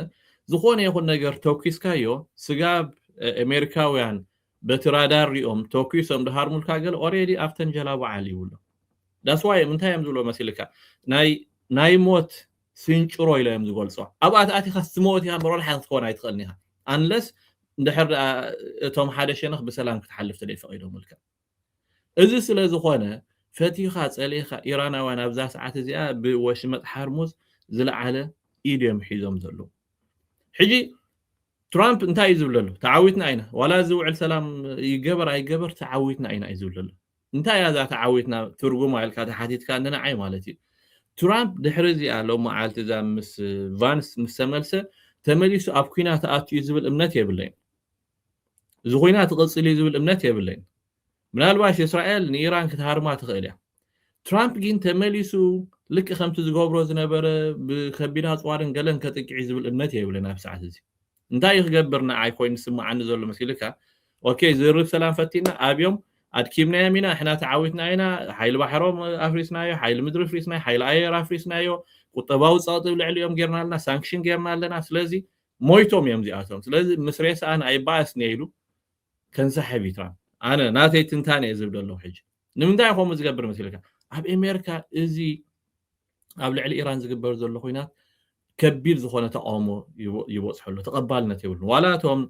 ዝኾነ ይኹን ነገር ተኩስካዮ ስጋብ ኣሜሪካውያን በቲ ራዳር ሪኦም ተኩሶም ድሃርሙልካ ገለ ኦሬዲ ኣብተን ጀላቡ ዓሊ ይብሎ ዳስዋይ እዮም እንታይ እዮም ዝብሎ መሲልካ ናይ ናይ ሞት ስንጭሮ ኢሎ እዮም ዝገልጾ ኣብኣ ተኣቲኻ ስትመወት ኢኻ እምበር ወላሓ ክትከውን ኣይትኽእልን ኢኻ ኣንለስ እንድሕር እቶም ሓደ ሸነኽ ብሰላም ክትሓልፍ ተደይ ፈቒዶምልካ እዚ ስለ ዝኾነ ፈቲኻ ጸሊእኻ ኢራናውያን ኣብዛ ሰዓት እዚኣ ብወሽመጥ ሓርሙዝ ዝለዓለ ኢድ እዮም ሒዞም ዘለዉ። ሕጂ ትራምፕ እንታይ እዩ ዝብል ዘሎ? ተዓዊትና ኢና ዋላ እዚ ውዕል ሰላም ይገበር ኣይገበር ተዓዊትና ኢና እዩ ዝብል ዘሎ። እንታይ እያ እዛ ተዓዊትና ትርጉማ ኢልካ ተሓቲትካ ንንዓይ ማለት እዩ። ትራምፕ ድሕሪ እዚኣ ሎመዓልቲ እዛ ምስ ቫንስ ምስ ተመልሰ ተመሊሱ ኣብ ኲናት ኣቱ እዩ ዝብል እምነት የብለይን። እዚ ኹናት ይቕጽል እዩ ዝብል እምነት የብለይን። ምናልባሽ እስራኤል ንኢራን ክትሃርማ ትኽእል እያ። ትራምፕ ጊን ተመሊሱ ልክዕ ከምቲ ዝገብሮ ዝነበረ ብከቢድ ኣጽዋርን ገለን ከጥቅዕ እዩ ዝብል እምነት የብለይን ኣብዚ ሰዓት እዚ። እንታይ እዩ ክገብር ንዓይ ኮይኑ ዝስምዓኒ ዘሎ መሲልካ ኦኬ ዝርርብ ሰላም ፈቲና ኣብዮም ኣድኪምናዮም ኢና ንሕና ተዓዊትና ኢና ሓይሊ ባሕሮም ኣፍሪስናዮ ሓይሊ ምድሪ ኣፍሪስናዮ ሓይሊ ኣየር ኣፍሪስናዮ ቁጠባዊ ጸቕጢ ልዕሊኦም ጌርና ኣለና ሳንክሽን ጌርና ኣለና ስለዚ ሞይቶም እዮም እዚኣቶም ስለዚ ምስ ሬስኣን ኣይባኣስን እየ ኢሉ ከንሳሕብ እዩ ትራምፕ ኣነ ናተይ ትንታነ እየ ዝብ ደለኹ ሕጂ ንምንታይ ከምኡ ዝገብር መስልካ ኣብ ኤሜርካ እዚ ኣብ ልዕሊ ኢራን ዝግበር ዘሎ ኩናት ከቢድ ዝኾነ ተቃውሞ ይበፅሖ ኣሎ ተቐባልነት የብሉ ዋላ እቶም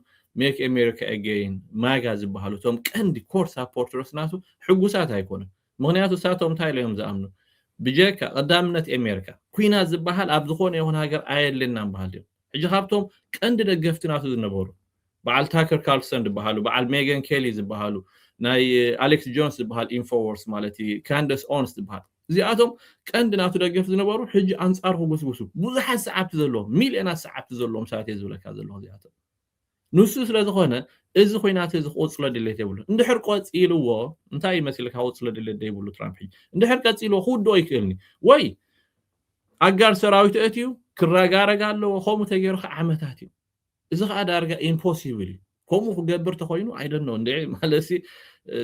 ሜክ ኤሜሪካ ኤጌይን ማጋ ዝበሃሉ እቶም ቀንዲ ኮር ሳፖርተርስ ናቱ ሕጉሳት ኣይኮኑን ምኽንያቱ እሳቶም እንታይ ኢሎም እዮም ዝኣምኑ ብጀካ ቀዳምነት ኤሜርካ ኩናት ዝበሃል ኣብ ዝኾነ ይኹን ሃገር ኣየድልየናን በሃልቲ እዮም ሕጂ ካብቶም ቀንዲ ደገፍቲ ናቱ ዝነበሩ በዓል ታከር ካርልሰን ዝበሃሉ በዓል ሜገን ኬሊ ዝበሃሉ ናይ ኣሌክስ ጆንስ ዝበሃል ኢንፎዎርስ ማለት እዩ ካንደስ ኦንስ ዝበሃል እዚኣቶም ቀንዲ ናቱ ደገፍቲ ዝነበሩ ሕጂ ኣንጻሩ ክጉስጉሱ ብዙሓት ሰዓብቲ ዘለዎም ሚልዮናት ሰዓብቲ ዘለዎም ሰባት እየ ዝብለካ ዘለኹ እዚኣቶም ንሱ ስለ ዝኾነ እዚ ኹናት እዚ ክቕጽሎ ድሌት የብሉን። እንድሕር ቀጺልዎ እንታይ እዩ መሲልካ ክቕጽሎ ድሌት ዘይብሉ ትራምፕ ሕጂ? እንድሕር ቀጺልዎ ክውድኦ ይክእል ኒ ወይ ኣጋር ሰራዊት ኣእትዩ ክረጋረግ ኣለዎ ከምኡ ተገይሩ ከ ዓመታት እዩ። እዚ ከኣ ዳርጋ ኢምፖሲብል እዩ። ከምኡ ክገብር ተኾይኑ ኣይ ዶንት ኖው እንድዒ ማለትሲ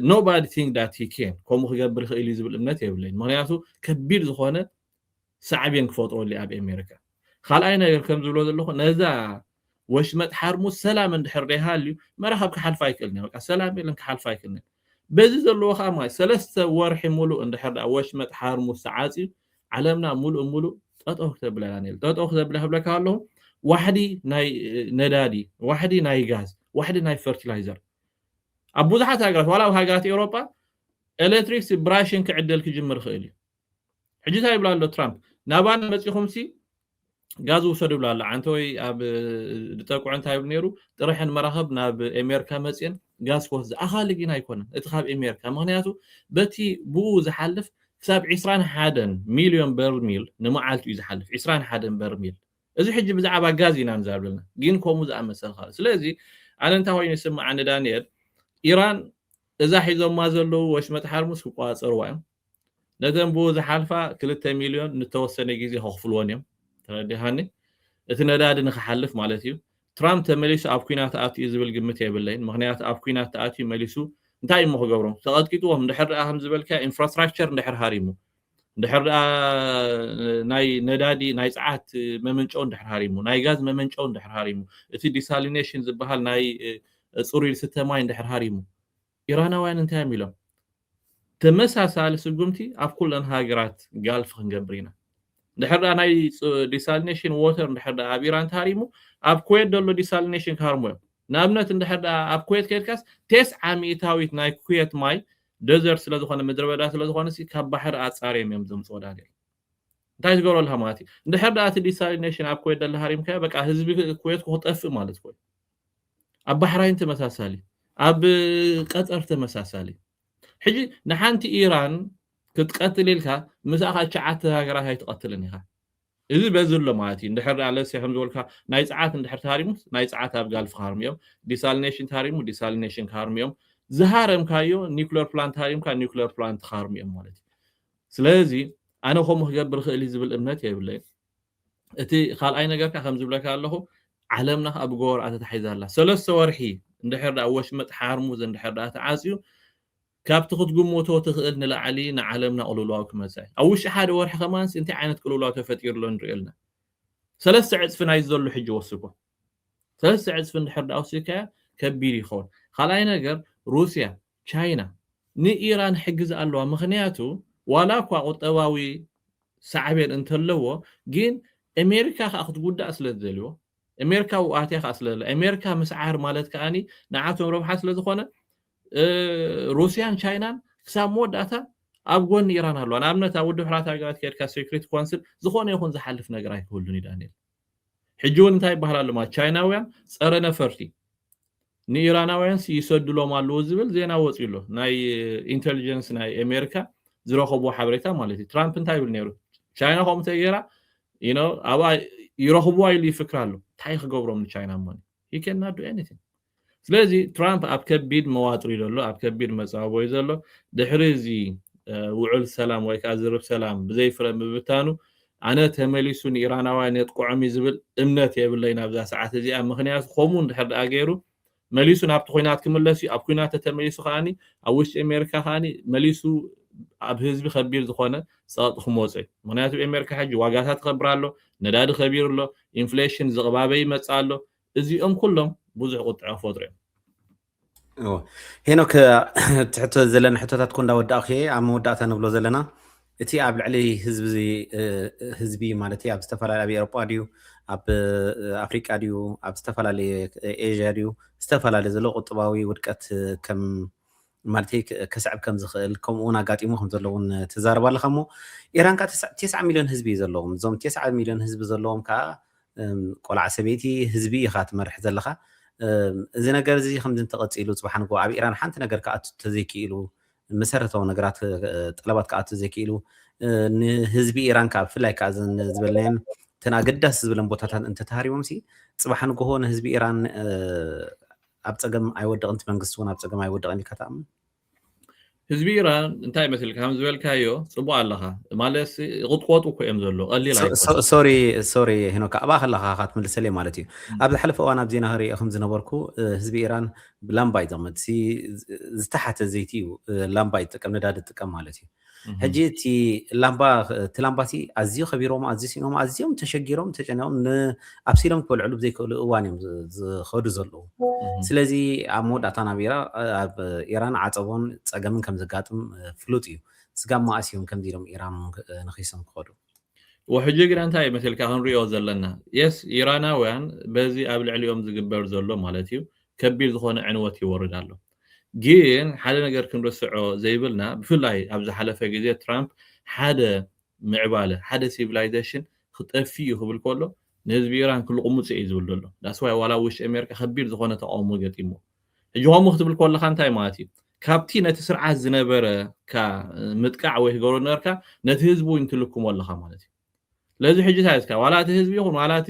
ኖባዲ ቲንክ ዳት ሂ ኬን ከምኡ ክገብር ይኽእል እዩ ዝብል እምነት የብለይን። ምኽንያቱ ከቢድ ዝኾነ ሳዕቤን ክፈጥረሉ እዩ ኣብ ኤሜሪካ። ካልኣይ ነገር ከም ዝብሎ ዘለኹ ነዛ ወሽመጥ ሓርሙዝ ሰላም እንድሕር ደይሃልዩ መራኽብ ክሓልፋ ኣይክእልን እየን። በቃ ሰላም የለን ክሓልፋ ኣይክእልን እየን። በዚ ዘለዎ ከኣ ማለት ሰለስተ ወርሒ ምሉእ እንድሕር ደኣ ወሽመጥ ሓርሙዝ ተዓጽዩ ዓለምና ምሉእ ምሉእ ጠጠው ክተብላ እያ ነይሩ። ጠጠው ክተብላ ክብለካ ከለኹ ዋሕዲ ናይ ነዳዲ፣ ዋሕዲ ናይ ጋዝ፣ ዋሕዲ ናይ ፈርቲላይዘር ኣብ ብዙሓት ሃገራት ዋላ ኣብ ሃገራት ኤውሮጳ ኤሌክትሪክስ ብራሽን ክዕደል ክጅምር ይኽእል እዩ። ሕጂ እንታይ ይብላ ኣሎ ትራምፕ ናባና መጺኹምሲ ጋዝ ውሰዱ ይብላ ኣሎ ዓንተወይ ኣብ ድጠቅዑ እንታይ ይብሉ ነይሩ ጥረሐን መራኸብ ናብ ኤሜርካ መፅን ጋዝ ክወስድ ኣኻሊ ግን ኣይኮነን እቲ ካብ ኤሜርካ ምክንያቱ በቲ ብኡ ዝሓልፍ ክሳብ 21 ሚልዮን በርሚል ንመዓልቲ እዩ ዝሓልፍ 21 በርሚል እዚ ሕጂ ብዛዕባ ጋዝ ኢና ንዛርበልና ግን ከምኡ ዝኣመሰል ካልእ ስለዚ ኣነ እንታይ ኮይኑ ይስምዓኒ ዳንኤል ኢራን እዛ ሒዞማ ዘለዉ ወሽመጥ ሓርሙስ ክቆፃፀርዋ እዮም ነተን ብኡ ዝሓልፋ ክልተ ሚልዮን ንተወሰነ ግዜ ከኽፍልወን እዮም። ተረዲኻኒ? እቲ ነዳዲ ንኽሓልፍ ማለት እዩ። ትራምፕ ተመሊሱ ኣብ ኲናት ኣትዩ ዝብል ግምት የብለይን፣ ምኽንያቱ ኣብ ኲናት ተኣትዩ መሊሱ እንታይ እዩ እሞ ክገብሮም? ተቐጥቂጥዎም እንድሕር ደኣ ከምዚ ዝበልካዮ ኢንፍራስትራክቸር እንድሕር ሃሪሙ፣ እንድሕር ደኣ ናይ ነዳዲ ናይ ጸዓት መመንጨዊ እንድሕር ሃሪሙ፣ ናይ ጋዝ መመንጨዊ እንድሕር ሃሪሙ፣ እቲ ዲሳሊኔሽን ዝበሃል ናይ ጽሩይ ዝስተ ማይ እንድሕር ሃሪሙ፣ ኢራናውያን እንታይ እዮም ኢሎም? ተመሳሳሊ ስጉምቲ ኣብ ኩለን ሃገራት ጋልፍ ክንገብር ኢና። እንድሕር ደኣ ናይ ዲሳሊኔሽን ዎተር እንድሕር ደኣ ኣብ ኢራን ተሃሪሙ ኣብ ኩዌት ዘሎ ዲሳሊኔሽን ክሃርሙ እዮም። ንኣብነት እንድሕር ደኣ ኣብ ኩዌት ከይድካስ ቴስዓ ሚእታዊት ናይ ኩዌት ማይ ደዘርት ስለ ዝኾነ ምድረበዳ ስለ ዝኾነሲ ካብ ባሕሪ ኣጻርዮም እዮም ዘምጽዎ ዳንኤል። እንታይ ዝገብሮ ኣለካ ማለት እዩ። እንድሕር ደኣ እቲ ዲሳሊኔሽን ኣብ ኩዌት ደለ ሃሪምካዮ በቃ ህዝቢ ኩዌት ክጠፍእ ማለት ኮይኑ ኣብ ባሕራይን ተመሳሳሊ ኣብ ቀጠር ተመሳሳሊ ሕጂ ንሓንቲ ኢራን ክትቀትል ኢልካ ምስኣ ከኣ ትሽዓተ ሃገራት ኣይትቐትልን ኢኻ እዚ በዚ ኣሎ ማለት እዩ እንድሕር ደኣ ለሴ ከም ዝበልካ ናይ ጸዓት እንድሕር ተሃሪሙስ ናይ ጸዓት ኣብ ጋልፍ ክሃርሙ እዮም ዲሳሊኔሽን ተሃሪሙ ዲሳሊኔሽን ክሃርሙ እዮም ዝሃረምካዮ ኒኩለር ፕላንት ሃሪምካ ኒኩለር ፕላንት ክሃርሙ እዮም ማለት እዩ ስለዚ ኣነ ከምኡ ክገብር ክእል ዝብል እምነት የብለይን እቲ ካልኣይ ነገር ከኣ ከምዚ ይብለካ ኣለኹ ዓለምና ከኣ ብጎቦርኣ ተታሒዛ ኣላ ሰለስተ ወርሒ እንድሕር ደኣ ወሽመጥ ሓርሙዝ እንድሕር ደኣ ተዓጽዩ ካብቲ ክትግምቶ ትኽእል ንላዕሊ ንዓለምና ቅልውላው ክመጽእ እዩ ኣብ ውሽጢ ሓደ ወርሒ ከማንስ እንታይ ዓይነት ቅልውላው ተፈጢሩ ኣሎ ንሪኦ ኣለና ሰለስተ ዕጽፊ ናይ ዘሎ ሕጂ ወስኮ ሰለስተ ዕጽፊ እንድሕር ደኣ ወሲድካዮ ከቢድ ይኸውን ካልኣይ ነገር ሩስያ ቻይና ንኢራን ሕግዝ ኣለዋ ምኽንያቱ ዋላ እኳ ቁጠባዊ ሳዕቤን እንተለዎ ግን ኤሜሪካ ከኣ ክትጉዳእ ስለ ትደልዎ ኤሜሪካ ኣብኡ ኣትያ ከኣ ስለ ዘላ ኤሜሪካ ምስዓር ማለት ከኣ ንዓቶም ረብሓ ስለ ዝኾነ ሩስያን ቻይናን ክሳብ መወዳእታ ኣብ ጎኒ ኢራን ኣለዋ ንኣብነት ኣብ ውድብ ሕራት ሃገራት ከድካ ሴኩሪቲ ኮንስል ዝኾነ ይኹን ዝሓልፍ ነገር ኣይክህሉን እዩ ዳንኤል ሕጂ ውን እንታይ ይበሃል ኣሎ ማለት ቻይናውያን ጸረ ነፈርቲ ንኢራናውያንስ ይሰድሎም ኣለዉ ዝብል ዜና ወጽዩ ኣሎ ናይ ኢንተልጀንስ ናይ ኣሜሪካ ዝረኸብዎ ሓበሬታ ማለት እዩ ትራምፕ እንታይ ይብል ነይሩ ቻይና ከምኡ ተገይራ ኣብኣ ይረኽብዋ ኢሉ ይፍክር ኣሎ እንታይ ክገብሮም ንቻይና እሞ ሂ ከናዱ ኤኒቲንግ ስለዚ ትራምፕ ኣብ ከቢድ መዋጥር እዩ ዘሎ፣ ኣብ ከቢድ መጻብቦ እዩ ዘሎ። ድሕሪ እዚ ውዑል ሰላም ወይ ከኣ ዝርብ ሰላም ብዘይፍረ ምብታኑ፣ ኣነ ተመሊሱ ንኢራናውያን የጥቅዖም እዩ ዝብል እምነት የብለይን ኣብዛ ሰዓት እዚኣ። ምኽንያቱ ከምኡ እንድሕር ደኣ ገይሩ መሊሱ ናብቲ ኲናት ክምለስ እዩ። ኣብ ኲናት ተተመሊሱ ከኣ ኣብ ውሽጢ ኣሜሪካ ከኣ መሊሱ ኣብ ህዝቢ ከቢድ ዝኾነ ጸቕጢ ክመጾ እዩ። ምኽንያቱ ኣሜሪካ ሕጂ ዋጋታ ትኸብር ኣሎ፣ ነዳዲ ከቢሩ ኣሎ፣ ኢንፍሌሽን ዝቕባበ ይመጽእ ኣሎ፣ እዚኦም ኩሎም ብዙሕ ቁጥዐ ክፈጥሩ እዮም። እወ ሄኖክ እቲ ሕቶ ዘለና ሕቶታት ኮ እንዳወዳእኩ እየ ኣብ መወዳእታ ንብሎ ዘለና እቲ ኣብ ልዕሊ ህዝቢ ማለት ኣብ ዝተፈላለየ ኣብ ኤሮጳ ድዩ ኣብ ኣፍሪቃ ድዩ ኣብ ዝተፈላለየ ኤዥያ ድዩ ዝተፈላለየ ዘሎ ቁጥባዊ ውድቀት ከም ማለተይ ከስዕብ ከም ዝኽእል ከምኡ እውን ኣጋጢሙ ከም ዘሎ እውን ትዛረብ ኣለኻ እሞ ኢራን ከዓ ተስዓ- ቴስዓ ሚልዮን ህዝቢ እዩ ዘለዎም እዞም ቴስዓ ሚልዮን ህዝቢ ዘለዎም ከዓ እም፣ ቆልዓ ሰበይቲ ህዝቢ ኢኻ ትመርሕ ዘለኻ እም፣ እዚ ነገር እዚ ከምዚ እንተቐፂሉ ፅባሕ ንግሆ ኣብ ኢራን ሓንቲ ነገር ክኣቱ ተዘይክኢሉ መሰረታዊ ነገራት እ፣ ጠለባት ክኣቱ ዘይክኢሉ እ፣ ንህዝቢ ኢራን ከዓ ብፍላይ ከዓ እዘን ዝበልናየን እተን ኣገዳሲ ዝብለን ቦታታት እንተተሃሪሞም ሲ ፅባሕ ንግሆ ንህዝቢ ኢራን እ፣ ኣብ ጸገም ኣይወድቕን እቲ መንግስቲ ውን ኣብ ጸገም ኣይወድቕን ኢልካ ትኣምን? ህዝቢ ኢራን እንታይ ይመስል ከም ዝበልካዮ ጽቡቅ ኣለኻ ማለትሲ ይቕጥቆጡ እኮ እዮም ዘሎ ቀሊል ኣይኮነን ሶሪ ሶሪ ሄኖካ ኣብኣ ከለኻ ካ ትምልሰለይ ማለት እዩ ኣብ ዝሓለፈ እዋን ኣብ ዜና ክርኢ ከም ዝነበርኩ ህዝቢ ኢራን ላምባ እዩ ዝቕመጥ ዝተሓተ ዘይቲ እዩ ላምባ ይጥቀም ነዳዲ ይጥቀም ማለት እዩ ሕጂ እቲ ላምባ እቲ ላምባቲ ኣዝዩ ከቢሮም ኣዝዩ ሲኖም ኣዝዮም ተሸጊሮም ተጨኒቆም ኣብሲሎም ክበልዕሉ ብዘይክእሉ እዋን እዮም ዝኸዱ ዘለዉ ስለዚ ኣብ መወዳእታ ናብ ኢራ ኣብ ኢራን ዓፀቦን ፀገምን ከም ዘጋጥም ፍሉጥ እዩ ስጋብ መኣስ እዮም ከምዚ ኢሎም ኢራን ንኺሶም ክኸዱ ወሕጂ ግና እንታይ እዩ መሲልካ ክንሪኦ ዘለና የስ ኢራናውያን በዚ ኣብ ልዕሊኦም ዝግበር ዘሎ ማለት እዩ ከቢድ ዝኾነ ዕንወት ይወርድ ኣሎ ግን ሓደ ነገር ክንርስዖ ዘይብልና ብፍላይ ኣብ ዝሓለፈ ግዜ ትራምፕ ሓደ ምዕባለ ሓደ ሲቪላይዘሽን ክጠፊእ እዩ ክብል ከሎ ንህዝቢ ኢራን ክልቁሙጽ እየ እዩ ዝብል ዘሎ ዳስ ዋይ ዋላ ኣብ ውሽጢ ኣሜሪካ ከቢድ ዝኾነ ተቃውሞ ገጢምዎ ሕጂ ከምኡ ክትብል ከለካ እንታይ ማለት እዩ ካብቲ ነቲ ስርዓት ዝነበረካ ምጥቃዕ ወይ ክገብሮ ነበርካ ነቲ ህዝቢ እውን ትልክሞ ኣለካ ማለት እዩ ስለዚ ሕጂ እንታይ እስካ ዋላ እቲ ህዝቢ ይኹን ዋላ እቲ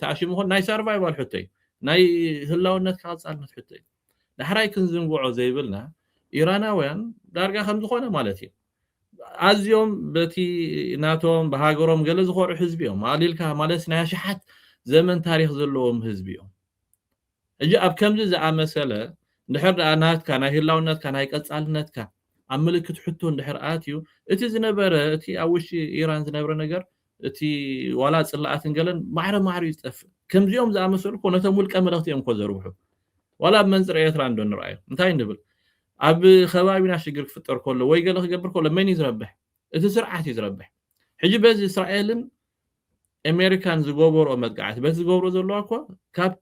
ተኣሽሙ ይኹን ናይ ሰርቫይቫል ሕቶ እዩ ናይ ህላውነትካ ቀጻልነት ሕቶ እዩ ዳሕራይ ክንዝንግዖ ዘይብልና ኢራናውያን ዳርጋ ከም ዝኾነ ማለት እዩ ኣዝዮም በቲ ናቶም ብሃገሮም ገለ ዝኾርዑ ህዝቢ እዮም ኣሊልካ ማለት ናይ ኣሽሓት ዘመን ታሪክ ዘለዎም ህዝቢ እዮም እጂ ኣብ ከምዚ ዝኣመሰለ እንድሕር ደኣ ናትካ ናይ ህላውነትካ ናይ ቀጻልነትካ ኣብ ምልክት ሕቶ እንድሕር ኣትዩ እቲ ዝነበረ እቲ ኣብ ውሽጢ ኢራን ዝነብረ ነገር እቲ ዋላ ጽላኣትን ገለን ማዕረ ማዕሩ እዩ ዝጠፍእ ከምዚኦም ዝኣመሰሉ እኮ ነቶም ውልቀ መለኽቲ እዮም እኮ ዘርብሑ ዋላ ብ መንጽር ኤርትራ እንዶ ንርኣዮም እንታይ ንብል ኣብ ከባቢና ሽግር ክፍጠር ከሎ ወይ ገለ ክገብር ከሎ መን እዩ ዝረብሕ እቲ ስርዓት እዩ ዝረብሕ ሕጂ በዚ እስራኤልን ኣሜሪካን ዝገበርኦ መጥቃዕቲ በቲ ዝገብሮ ዘለዋ እኮ ካብ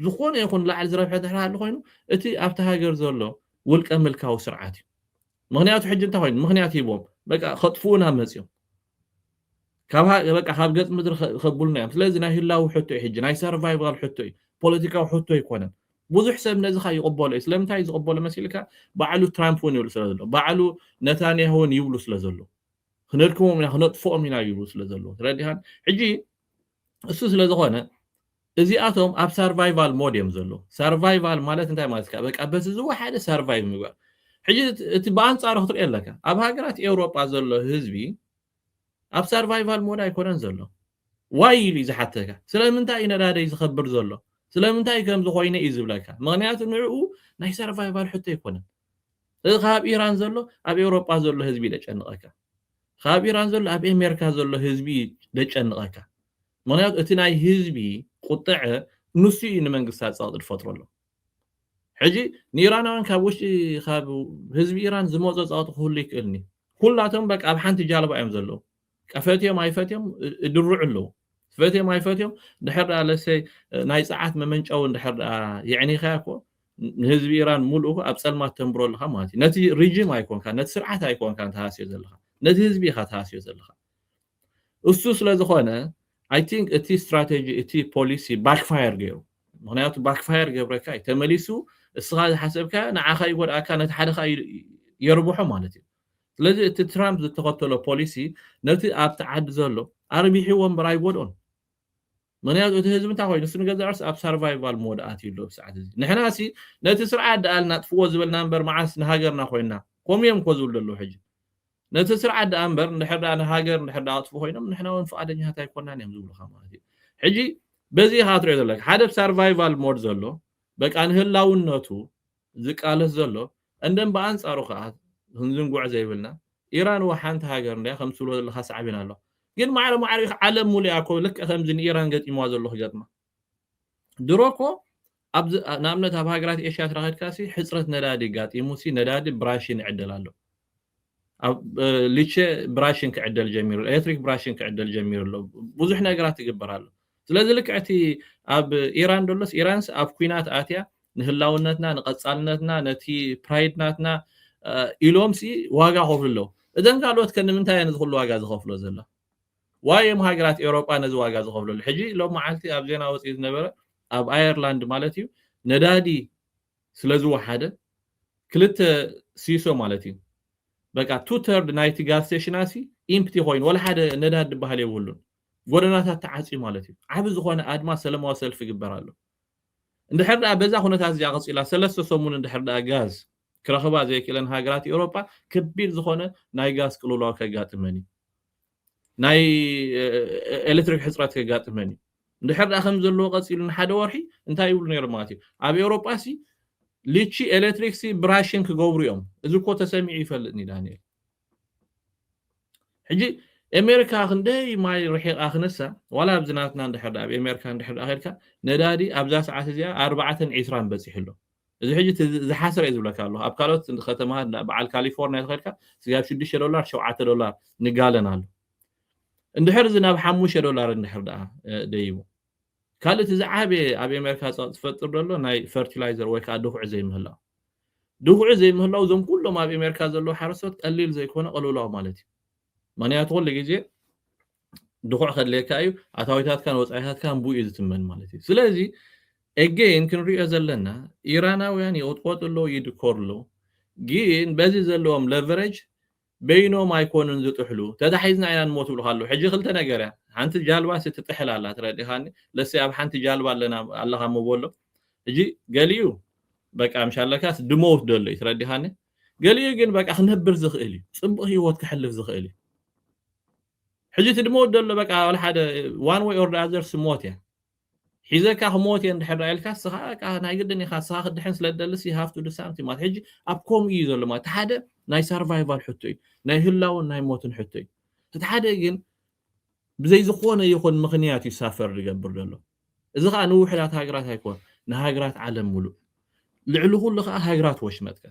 ዝኾነ ይኹን ላዕሊ ዝረብሐ እንድሕር ሃልዩ ኮይኑ እቲ ኣብቲ ሃገር ዘሎ ውልቀ ምልካዊ ስርዓት እዩ ምኽንያቱ ሕጂ እንታይ ኮይኑ ምኽንያት ሂቦም በቃ ከጥፍኡና መጽዮም ካብ በቃ ካብ ገጽ ምድሪ ከብሉና እዮም ስለዚ ናይ ህላዊ ሕቶ እዩ ሕጂ ናይ ሰርቫይቫል ሕቶ እዩ ፖለቲካዊ ሕቶ ኣይኮነን ብዙሕ ሰብ ነዚ ካ ይቕበሎ እዩ ስለምንታይ ዝቕበሎ መሲልካ ባዕሉ ትራምፕ እውን ይብሉ ስለ ዘሎ ባዕሉ ነታንያሁ እውን ይብሉ ስለ ዘሎ ክነድክሞም ኢና ክነጥፍኦም ኢና ይብሉ ስለ ዘለዎ ትረዲኻን ሕጂ እሱ ስለ ዝኾነ እዚኣቶም ኣብ ሰርቫይቫል ሞድ እዮም ዘለዉ ሰርቫይቫል ማለት እንታይ ማለት ካ በቃ በቲ ዝወሓደ ሰርቫይቭ ምግባር ሕጂ እቲ ብኣንጻሩ ክትሪኦ ኣለካ ኣብ ሃገራት ኤውሮጳ ዘሎ ህዝቢ ኣብ ሰርቫይቫል ሞድ ኣይኮነን ዘሎ ዋይ ኢሉ እዩ ዝሓተካ ስለምንታይ እዩ ነዳደይ ዝኸብር ዘሎ ስለምንታይ ከምዚ ኮይነ እዩ ዝብለካ ምክንያቱ ንዕኡ ናይ ሰርቫይቫል ሕቶ ኣይኮነን እዚ ካብ ኢራን ዘሎ ኣብ ኤውሮጳ ዘሎ ህዝቢ እዩ ዘጨንቐካ ኻብ ኢራን ዘሎ ኣብ ኤሜርካ ዘሎ ህዝቢ እዩ ደጨንቐካ ምኽንያቱ እቲ ናይ ህዝቢ ቁጠዐ ኑሱ እዩ ንመንግስታ ጸቕጢ ድፈጥረሉ ሕጂ ንኢራናውያን ካብ ውሽጢ ኻብ ህዝቢ ኢራን ዝመጾ ጸቕጢ ክህሉ ይክእልኒ ኩላቶም በቃ ኣብ ሓንቲ ጃልባ እዮም ዘለዉ ቀፈትዮም ኣይፈትዮም እድርዑ ኣለዉ ፈትዮም ኣይፈትዮም ድሕር ደኣ ለሰይ ናይ ጸዓት መመንጨዊ ድሕር ደኣ የዕኒኻያ እኮ ንህዝቢ ኢራን ሙሉኡ ኣብ ጸልማት ተንብሮ ኣለኻ ማለት እዩ። ነቲ ሪጂም ኣይኮንካን፣ ነቲ ስርዓት ኣይኮንካን ትሃስዮ ዘለኻ፣ ነቲ ህዝቢ ኢኻ ትሃስዮ ዘለኻ። እሱ ስለዝኾነ ኣይ ቲንክ እቲ ስትራቴጂ እቲ ፖሊሲ ባክፋየር ገይሩ። ምክንያቱ ባክፋየር ገብረካ እዩ ተመሊሱ እስኻ ዝሓሰብካዮ ንዓኻ ይጎድኣካ ነቲ ሓደ ከዓ የርብሖ ማለት እዩ። ስለዚ እቲ ትራምፕ ዝተኸተሎ ፖሊሲ ነቲ ኣብቲ ዓዲ ዘሎ ኣርቢሕዎ እምበር ኣይጎድኦን። ምኽንያቱ እቲ ህዝቢ እንታይ ኮይኑ ንሱ ንገዛእ ርእሱ ኣብ ሳርቫይቫል ሞድ ኣትዩ ኣሎ ኣብዚ ሰዓት እዚ። ንሕናሲ ነቲ ስርዓት ደኣ ናጥፍዎ ዝበልና እምበር መዓስ ንሃገርና ኮይና። ከምኡ እዮም እኮ ዝብሉ ዘለዉ ሕጂ። ነቲ ስርዓት ደኣ እምበር እንድሕር ደኣ ንሃገር እንድሕር ደኣ ከጥፍኡ ኮይኖም ንሕና እውን ፍቓደኛታት ኣይኮናን እዮም ዝብሉኻ ማለት እዩ። ሕጂ በዚ ኢኻ ትሪኦ ዘለካ ሓደ ኣብ ሳርቫይቫል ሞድ ዘሎ በቃ ንህላውነቱ ዝቃለስ ዘሎ እንን ብኣንጻሩ ከኣ ክንዝንግዖ ዘይብልና ኢራን እወ ሓንቲ ሃገር እንድያ ከምቲ ትብሎ ዘለኻ ሳዕቤን ኣለዋ ግን ማዕረ ማዕረ ኢኻ ዓለም ሙሉእ እያ እኮ ልክዕ ከምዚ ንኢራን ገጢምዋ ዘሎ ክገጥማ ድሮ እኮ ኣብዚ ንኣብነት ኣብ ሃገራት ኤሽያ ተራኺድካሲ ሕጽረት ነዳዲ ጋጢሙሲ ነዳዲ ብራሽን ይዕደል ኣሎ ኣብ ሊቸ ብራሽን ክዕደል ጀሚሩ ኤሌክትሪክ ብራሽን ክዕደል ጀሚሩ ኣሎ ብዙሕ ነገራት ይግበር ኣሎ ስለዚ ልክዕቲ ኣብ ኢራን ደሎስ ኢራንስ ኣብ ኩናት ኣትያ ንህላውነትና ንቐጻልነትና ነቲ ፕራይድ ናትና ኢሎም ሲ ዋጋ ይኸፍሉ ኣለዉ እዘን ካልኦት ከ ንምንታይ እየን እዚ ኩሉ ዋጋ ዝኸፍሎ ዘሎ ዋይ እዮም ሃገራት ኤውሮጳ ነዚ ዋጋ ዝኸፍለሉ ሕጂ ሎም መዓልቲ ኣብ ዜና ወፂኡ ዝነበረ ኣብ ኣየርላንድ ማለት እዩ ነዳዲ ስለ ዝወሓደ ክልተ ሲሶ ማለት እዩ በቃ ቱ ተርድ ናይቲ ጋዝ ስቴሽናሲ ኢምፕቲ ኮይኑ ወላ ሓደ ነዳድ ዝበሃል የብሉን ጎደናታት ተዓፅዩ ማለት እዩ ዓብ ዝኾነ ኣድማ ሰለማዊ ሰልፊ ይግበር ኣሎ እንድሕር ደኣ በዛ ኩነታት እዚኣ ቀጺላ ሰለስተ ሰሙን እንድሕር ደኣ ጋዝ ክረኽባ ዘይክእለን ሃገራት ኤውሮጳ ከቢድ ዝኾነ ናይ ጋዝ ቅልውላው ከጋጥመን እዩ። ናይ ኤሌክትሪክ ሕጽረት ከጋጥመን እዩ። እንድሕር ደኣ ከም ዘለዎ ቀጺሉ ንሓደ ወርሒ እንታይ ይብሉ ነይሮም ማለት እዩ ኣብ ኤውሮጳ ሲ ልቺ ኤሌክትሪክ ሲ ብራሽን ክገብሩ እዮም። እዚ እኮ ተሰሚዑ ይፈልጥ ንዳንኤል። ሕጂ ኤሜሪካ ክንደይ ማይ ርሒቓ ክነሳ ዋላ ኣብዚ ናትና እንድሕር ደኣ ኣብ ኤሜሪካ እንድሕር ደኣ ኬድካ ነዳዲ ኣብዛ ሰዓት እዚኣ ኣርባዕተን ዒስራን በጺሑ ኣሎ እዚ ሕጂ እቲ ዝሓሰረ እዩ ዝብለካ ኣለኹ ኣብ ካልኦት ከተማታት እንዳ በዓል ካሊፎርንያ ተኸድካ ስጋ ኣብ ሽዱሽተ ዶላር ሸውዓተ ዶላር ንጋለን ኣሎ እንድሕር እዚ ናብ ሓሙሽተ ዶላር እንድሕር ደኣ ደይቡ ካልእ እቲ ዝዓበየ ኣብ ኤሜርካ ጸቕጢ ዝፈጥር ደሎ ናይ ፈርቲላይዘር ወይ ከኣ ድኹዒ ዘይምህላው። ድኹዒ ዘይምህላው እዞም ኩሎም ኣብ ኤሜርካ ዘለዉ ሓረስቶት ቀሊል ዘይኮነ ቅልውላው ማለት እዩ። ምክንያቱ ኩሉ ግዜ ድኹዕ ከድልየካ እዩ፣ ኣታዊታትካን ወጻኢታትካን ብኡ እዩ ዝትመን ማለት እዩ። ስለዚ ኤገይን ክንርእዮ ዘለና ኢራናውያን ይቕጥቆጡ ኣለዉ፣ ይድኮሩ ኣለዉ፣ ግን በዚ ዘለዎም ለቨረጅ በይኖም ኣይኮኑን ዝጥሕሉ ተታሒዝና ኢና ንሞት ይብሉኻ ኣለዉ ሕጂ ክልተ ነገር እያ ሓንቲ ጃልባሲ ትጥሕል ኣላ ትረዲኻኒ ለሰይ ኣብ ሓንቲ ጃልባ ኣለና ኣለኻ እሞ በሎ ሕጂ ገሊኡ በቃ ምሽ ኣለካስ ድመውት ደሎ እዩ ትረዲኻኒ ገሊኡ ግን በቃ ክነብር ዝኽእል እዩ ጽቡቕ ህይወት ክሕልፍ ዝኽእል እዩ ሕጂ እቲ ድመውት ደሎ በቃ ሓደ ዋን ወይ ኦር ዳዘርስ ሞት እያ ሒዘካ ክሞት እየ እንድሕር ደኣ ኢልካ እስኻ በቃ ናይ ግድን ኢኻ እስኻ ክትድሕን ስለ ትደልስ you have to do something ማለት ሕጂ ኣብ ከምኡ እዩ ዘሎ ማለት እቲ ሓደ ናይ ሳርቫይቫል ሕቶ እዩ ናይ ህላውን ናይ ሞትን ሕቶ እዩ እቲ ሓደ ግን ብዘይ ዝኾነ ይኹን ምኽንያት እዩ ሳፈር ዝገብር ዘሎ እዚ ከዓ ንውሕዳት ሃገራት ኣይኮን ንሃገራት ዓለም ሙሉእ ልዕሊ ኩሉ ከዓ ሃገራት ወሽመጥካ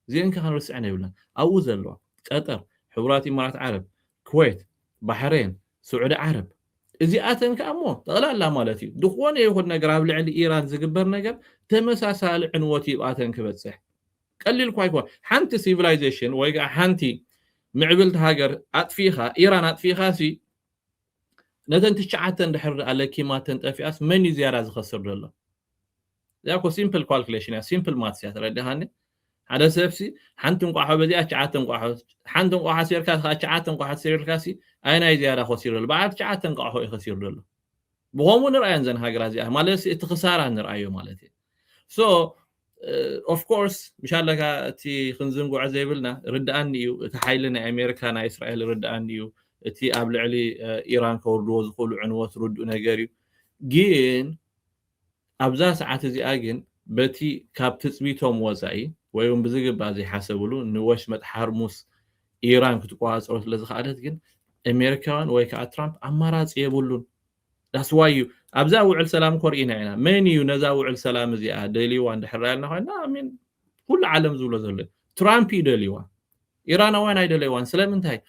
እዚኤን ከ ክንርስዐን የብልናን ኣብኡ ዘለዋ ቀጠር ሕቡራት ኢማራት ዓረብ ኩዌት ባሕሬን ስዑዲ ዓረብ እዚኣተን ከኣ እሞ ጠቕላላ ማለት እዩ ዝኾነ ይኹን ነገር ኣብ ልዕሊ ኢራን ዝግበር ነገር ተመሳሳሊ ዕንወት እዩ ኣብኣተን ክበጽሕ ቀሊል እኳ ኣይኮነ ሓንቲ ሲቪላይዜሽን ወይ ከኣ ሓንቲ ምዕብልቲ ሃገር ኣጥፊእኻ ኢራን ኣጥፊእኻሲ ነተን ትሽዓተ እንድሕር ደኣ ለኪማተን ጠፊኣስ መን እዩ ዝያዳ ዝኸስር ዘሎ? እዚኣ እኮ ሲምፕል ኳልኩሌሽን እያ፣ ሲምፕል ማትስ እያ ተረዲኻኒ። ሓደ ሰብሲ ሓንቲ እንቋሖ በዚኣ ትሽዓተ እንቋሖ ሓንቲ እንቋሖ ኣሲርካ ከዓ ትሽዓተ እንቋሖ ተሲርልካ ሲ ኣየናይ ዝያዳ ከሲሩ ዘሎ? በዓል ትሽዓተ እንቋሖ እዩ ከሲሩ ዘሎ። ብኸምኡ ንርኣየን እዘን ሃገራት እዚኣ ማለት እቲ ክሳራ ንርኣዮ ማለት እዩ። ሶ ኦፍ ኮርስ ምሻለካ እቲ ክንዝንግዖ ዘይብልና ርድኣኒ እዩ እቲ ሓይሊ ናይ ኣሜሪካ ናይ እስራኤል ርድኣኒ እዩ እቲ ኣብ ልዕሊ ኢራን ከወርድዎ ዝኽእሉ ዕንወት ርድኡ ነገር እዩ ግን ኣብዛ ሰዓት እዚኣ ግን በቲ ካብ ትፅቢቶም ወፃኢ ወይ እውን ብዝግባእ ዘይሓሰብሉ ንወሽመጥ ሓርሙስ ኢራን ክትቆፃፀሮ ስለዝኸኣለት ግን ኣሜሪካውያን ወይ ከዓ ትራምፕ ኣማራፂ የብሉን That's why you ኣብዛ ውዕል ሰላም እኮ ርኢና ኢና መን እዩ ነዛ ውዕል ሰላም እዚኣ ደልይዋ እንድሕር ኢልና ኮይና ሚን ኩሉ ዓለም ዝብሎ ዘሎ ትራምፕ እዩ ደልይዋ ኢራናውያን ኣይደለይዋን ስለምንታይ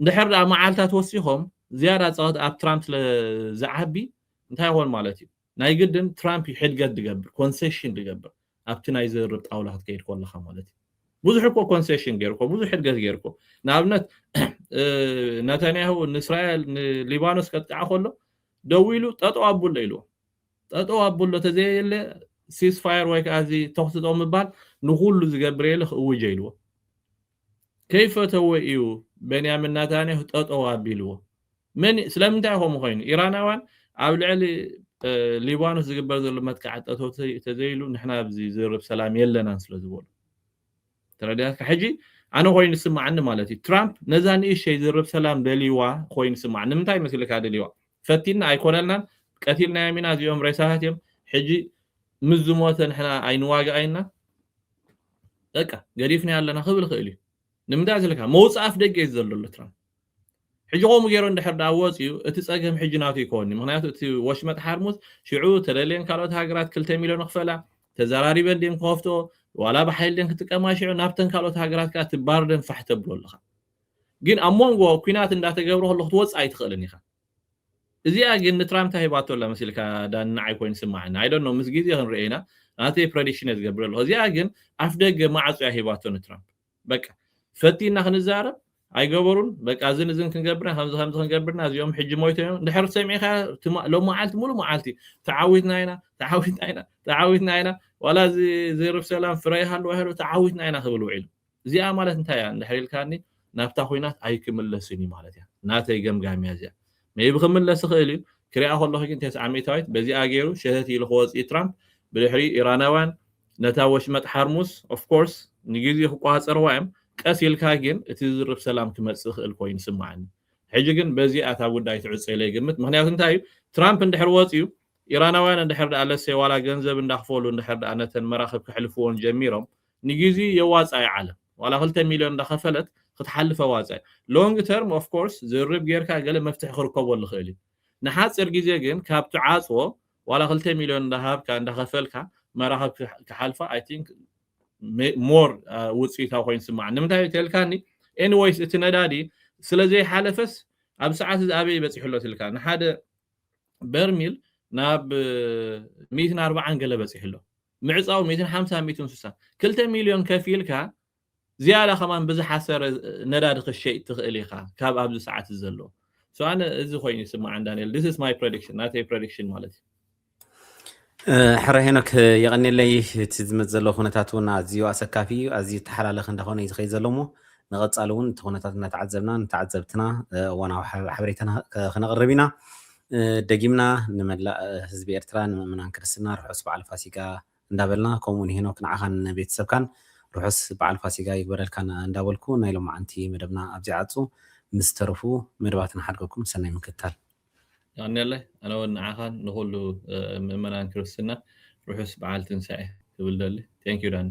እንድሕር ደኣ መዓልታት ወሲኾም ዝያዳ ፀወት ኣብ ትራምፕ ስለዝዓቢ እንታይ ይኾን ማለት እዩ ናይ ግድን ትራምፕ እዩ ሕድገት ዝገብር ኮንሴሽን ዝገብር ኣብቲ ናይ ዝርርብ ጣውላ ክትከይድ ኮለኻ ማለት እዩ ብዙሕ እኮ ኮንሴሽን ገይሩ እኮ ብዙሕ እድገት ገይሩ እኮ ንኣብነት ነተንያሁ ንእስራኤል ንሊባኖስ ከጥቅዓ ከሎ ደው ኢሉ ጠጠው ኣቡሎ ኢልዎ ጠጠው ኣቡሎ ተዘየለ ሲስፋየር ወይ ከዓ እዚ ተኽሲ ጠው ምባል ንኩሉ ዝገብር የለ ክእውጀ ኢልዎ ከይፈተዎ ኢዩ በንያሚን ናታንያሁ ጠጠው ኣቢልዎ። መን ስለምንታይ ከምኡ ኮይኑ ኢራናውያን ኣብ ልዕሊ ሊባኖስ ዝግበር ዘሎ መጥቃዕቲ ጠጠው ተዘይሉ ንሕና ኣብዚ ዝርብ ሰላም የለናን ስለ ዝበሉ ተረዲኣካ ሕጂ ኣነ ኮይኑ ስምዓኒ ማለት እዩ ትራምፕ ነዛ ንእሸይ ዝርብ ሰላም ደልይዋ ኮይኑ ስምዓኒ ንምንታይ መስልካ ደልይዋ ፈቲና ኣይኮነልናን ቀቲልናዮም ኢና እዚኦም ሬሳታት እዮም ሕጂ ምስ ዝሞተ ንሕና ኣይንዋጋእ ኢልና በቃ ገዲፍናዮ ኣለና ክብል ይኽእል እዩ ንምንታይ ዘለካ መውፅእ ኣፍ ደገ እዩ ዘሎ ኣሎ ትራምፕ ሕጂ ከምኡ ገይሮ እንድሕር ዳኣ ወፅዩ እቲ ፀገም ሕጂ ናቱ ይከውን እዩ ምክንያቱ እቲ ወሽመጥ ሓርሙዝ ሽዑ ተደልየን ካልኦት ሃገራት ክልተ ሚልዮን ክፈላ ተዘራሪበን ድን ክኸፍቶ ዋላ ብሓይል ድን ክጥቀማ ሽዑ ናብተን ካልኦት ሃገራት ከዓ እቲ ባርደን ፋሕ ተብሎ ኣለኻ ግን ኣብ መንጎ ኩናት እንዳተገብረ ከሎ ክትወፅእ ኣይትኽእልን ኢኻ እዚኣ ግን ንትራምፕ እታ ሂባቶ ኣላ መሲልካ ዳኒ ንዓይ ኮይኑ ይስማዓኒ i don't know ምስ ግዜ ክንርእዮ ኢና ናተይ ፕረዲክሽን እየ ዝገብር ዘለኩ እዚኣ ግን ኣፍደገ ማዕጾ እያ ሂባቶ ንትራምፕ በቃ ፈቲና ክንዛረብ ኣይገበሩን በቃ እዝን እዝን ክንገብርና ከምዚ ከምዚ ክንገብርና እዚኦም ሕጂ ሞይቶም እዮም ድሕሪ ሰሚዕካ ሎመዓልቲ ሙሉ መዓልቲ ተዓዊትና ኢና ተዓዊትና ኢና ተዓዊትና ኢና ዋላ እዚ ዘርብ ሰላም ፍረ ይሃልዋ ይሃልው ተዓዊትና ኢና ክብል ውዒሉ እዚኣ ማለት እንታይ እያ እንድሕር ኢልካኒ ናብታ ኹናት ኣይክምለስን እዩ ማለት እያ ናተይ ገምጋም እያ እዚኣ ሜይቢ ክምለስ ይኽእል እዩ ክሪኣ ከለኹ ግን ተስዓ ሚእታዊት በዚኣ ገይሩ ሸተት ኢሉ ክወጽእ እዩ ትራምፕ ብድሕሪኡ ኢራናውያን ነታ ወሽመጥ ሓርሙስ ኦፍ ኮርስ ንግዜ ክቆጻጸርዋ እዮም ቀስ ኢልካ ግን እቲ ዝርብ ሰላም ክመጽእ ይኽእል ኮይኑ ይስምዓኒ ሕጂ ግን በዚኣ እታ ጉዳይ ትዕጾ ኢለ ይግምት ምኽንያቱ እንታይ እዩ ትራምፕ እንድሕር ወጽዩ ኢራናውያን እንድሕር ደኣ ለሴ ዋላ ገንዘብ እንዳኽፈሉ እንድሕር ደኣ ነተን መራኽብ ከሕልፍዎን ጀሚሮም ንግዜኡ የዋጻ ዩ ዓለም ዋላ ክልተ ሚልዮን እንዳከፈለት ክትሓልፍ ኣዋጻ ዩ long term of course ዝርርብ ጌርካ ገለ መፍትሒ ክርከበሉ ይክእል ዩ ንሓጺር ግዜ ግን ካብ ትዓጽዎ ዋላ ክልተ ሚልዮን እንዳሃብካ እንዳከፈልካ መራክብ ክሓልፋ i think more ውጽኢታዊ ኮይኑ ይስመዓኒ ንምንታይ ዩ ተልካኒ anyways እቲ ነዳዲ ስለ ዘይሓለፈስ ኣብዚ ሰዓት እዚ ኣበይ ዩ በጺሑ ኣሎ ትልካ ንሓደ በርሚል ናብ ሚእትን ኣርብዓን ገለ በጺሑ ኣሎ ምዕጻው ሚእትን ሓምሳን ሚእትን ስሳን ክልተ ሚልዮን ከፊልካ ዝያዳ ከማን ብዝሓሰረ ነዳዲ ክሸይጥ ትኽእል ኢኻ ካብ ኣብዚ ሰዓት እዚ ዘሎ so ኣነ እዚ ኮይኑ ይስምዓን ዳንኤል this is my prediction ናተይ prediction ማለት እዩ ሕረ ሄኖክ የቐኒለይ እቲ ዝመፅ ዘሎ ኩነታት እውን ኣዝዩ ኣሰካፊ እዩ ኣዝዩ ተሓላለኽ እንዳኾነ እዩ ዝኸይድ ዘሎ እሞ ንቐፃሊ እውን እቲ ኩነታት እናተዓዘብና ንተዓዘብትና እዋናዊ ሓበሬታ ክነቕርብ ኢና ደጊምና ንመላእ ህዝቢ ኤርትራ ንምእምናን ክርስትና ርሑስ በዓል ፋሲጋ እንዳበልና ከምኡ ውን ሄኖክ ንዓኻን ንቤተሰብካን ርሑስ በዓል ፋሲጋ ይግበረልካ እንዳበልኩ ናይ ሎምዓንቲ መደብና ኣብዚ ይዓጹ ምስ ዝተረፉ መደባት ንሓድገኩም ሰናይ ምክትታል። የቀንየለይ ኣነ ውን ንዓኻን ንኹሉ ምእመናን ክርስትና ርሑስ በዓል ትንሳኤ ክብል እደሊ Thank you ዳኒ።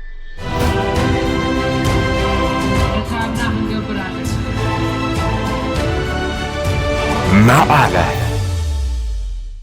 መቐለ።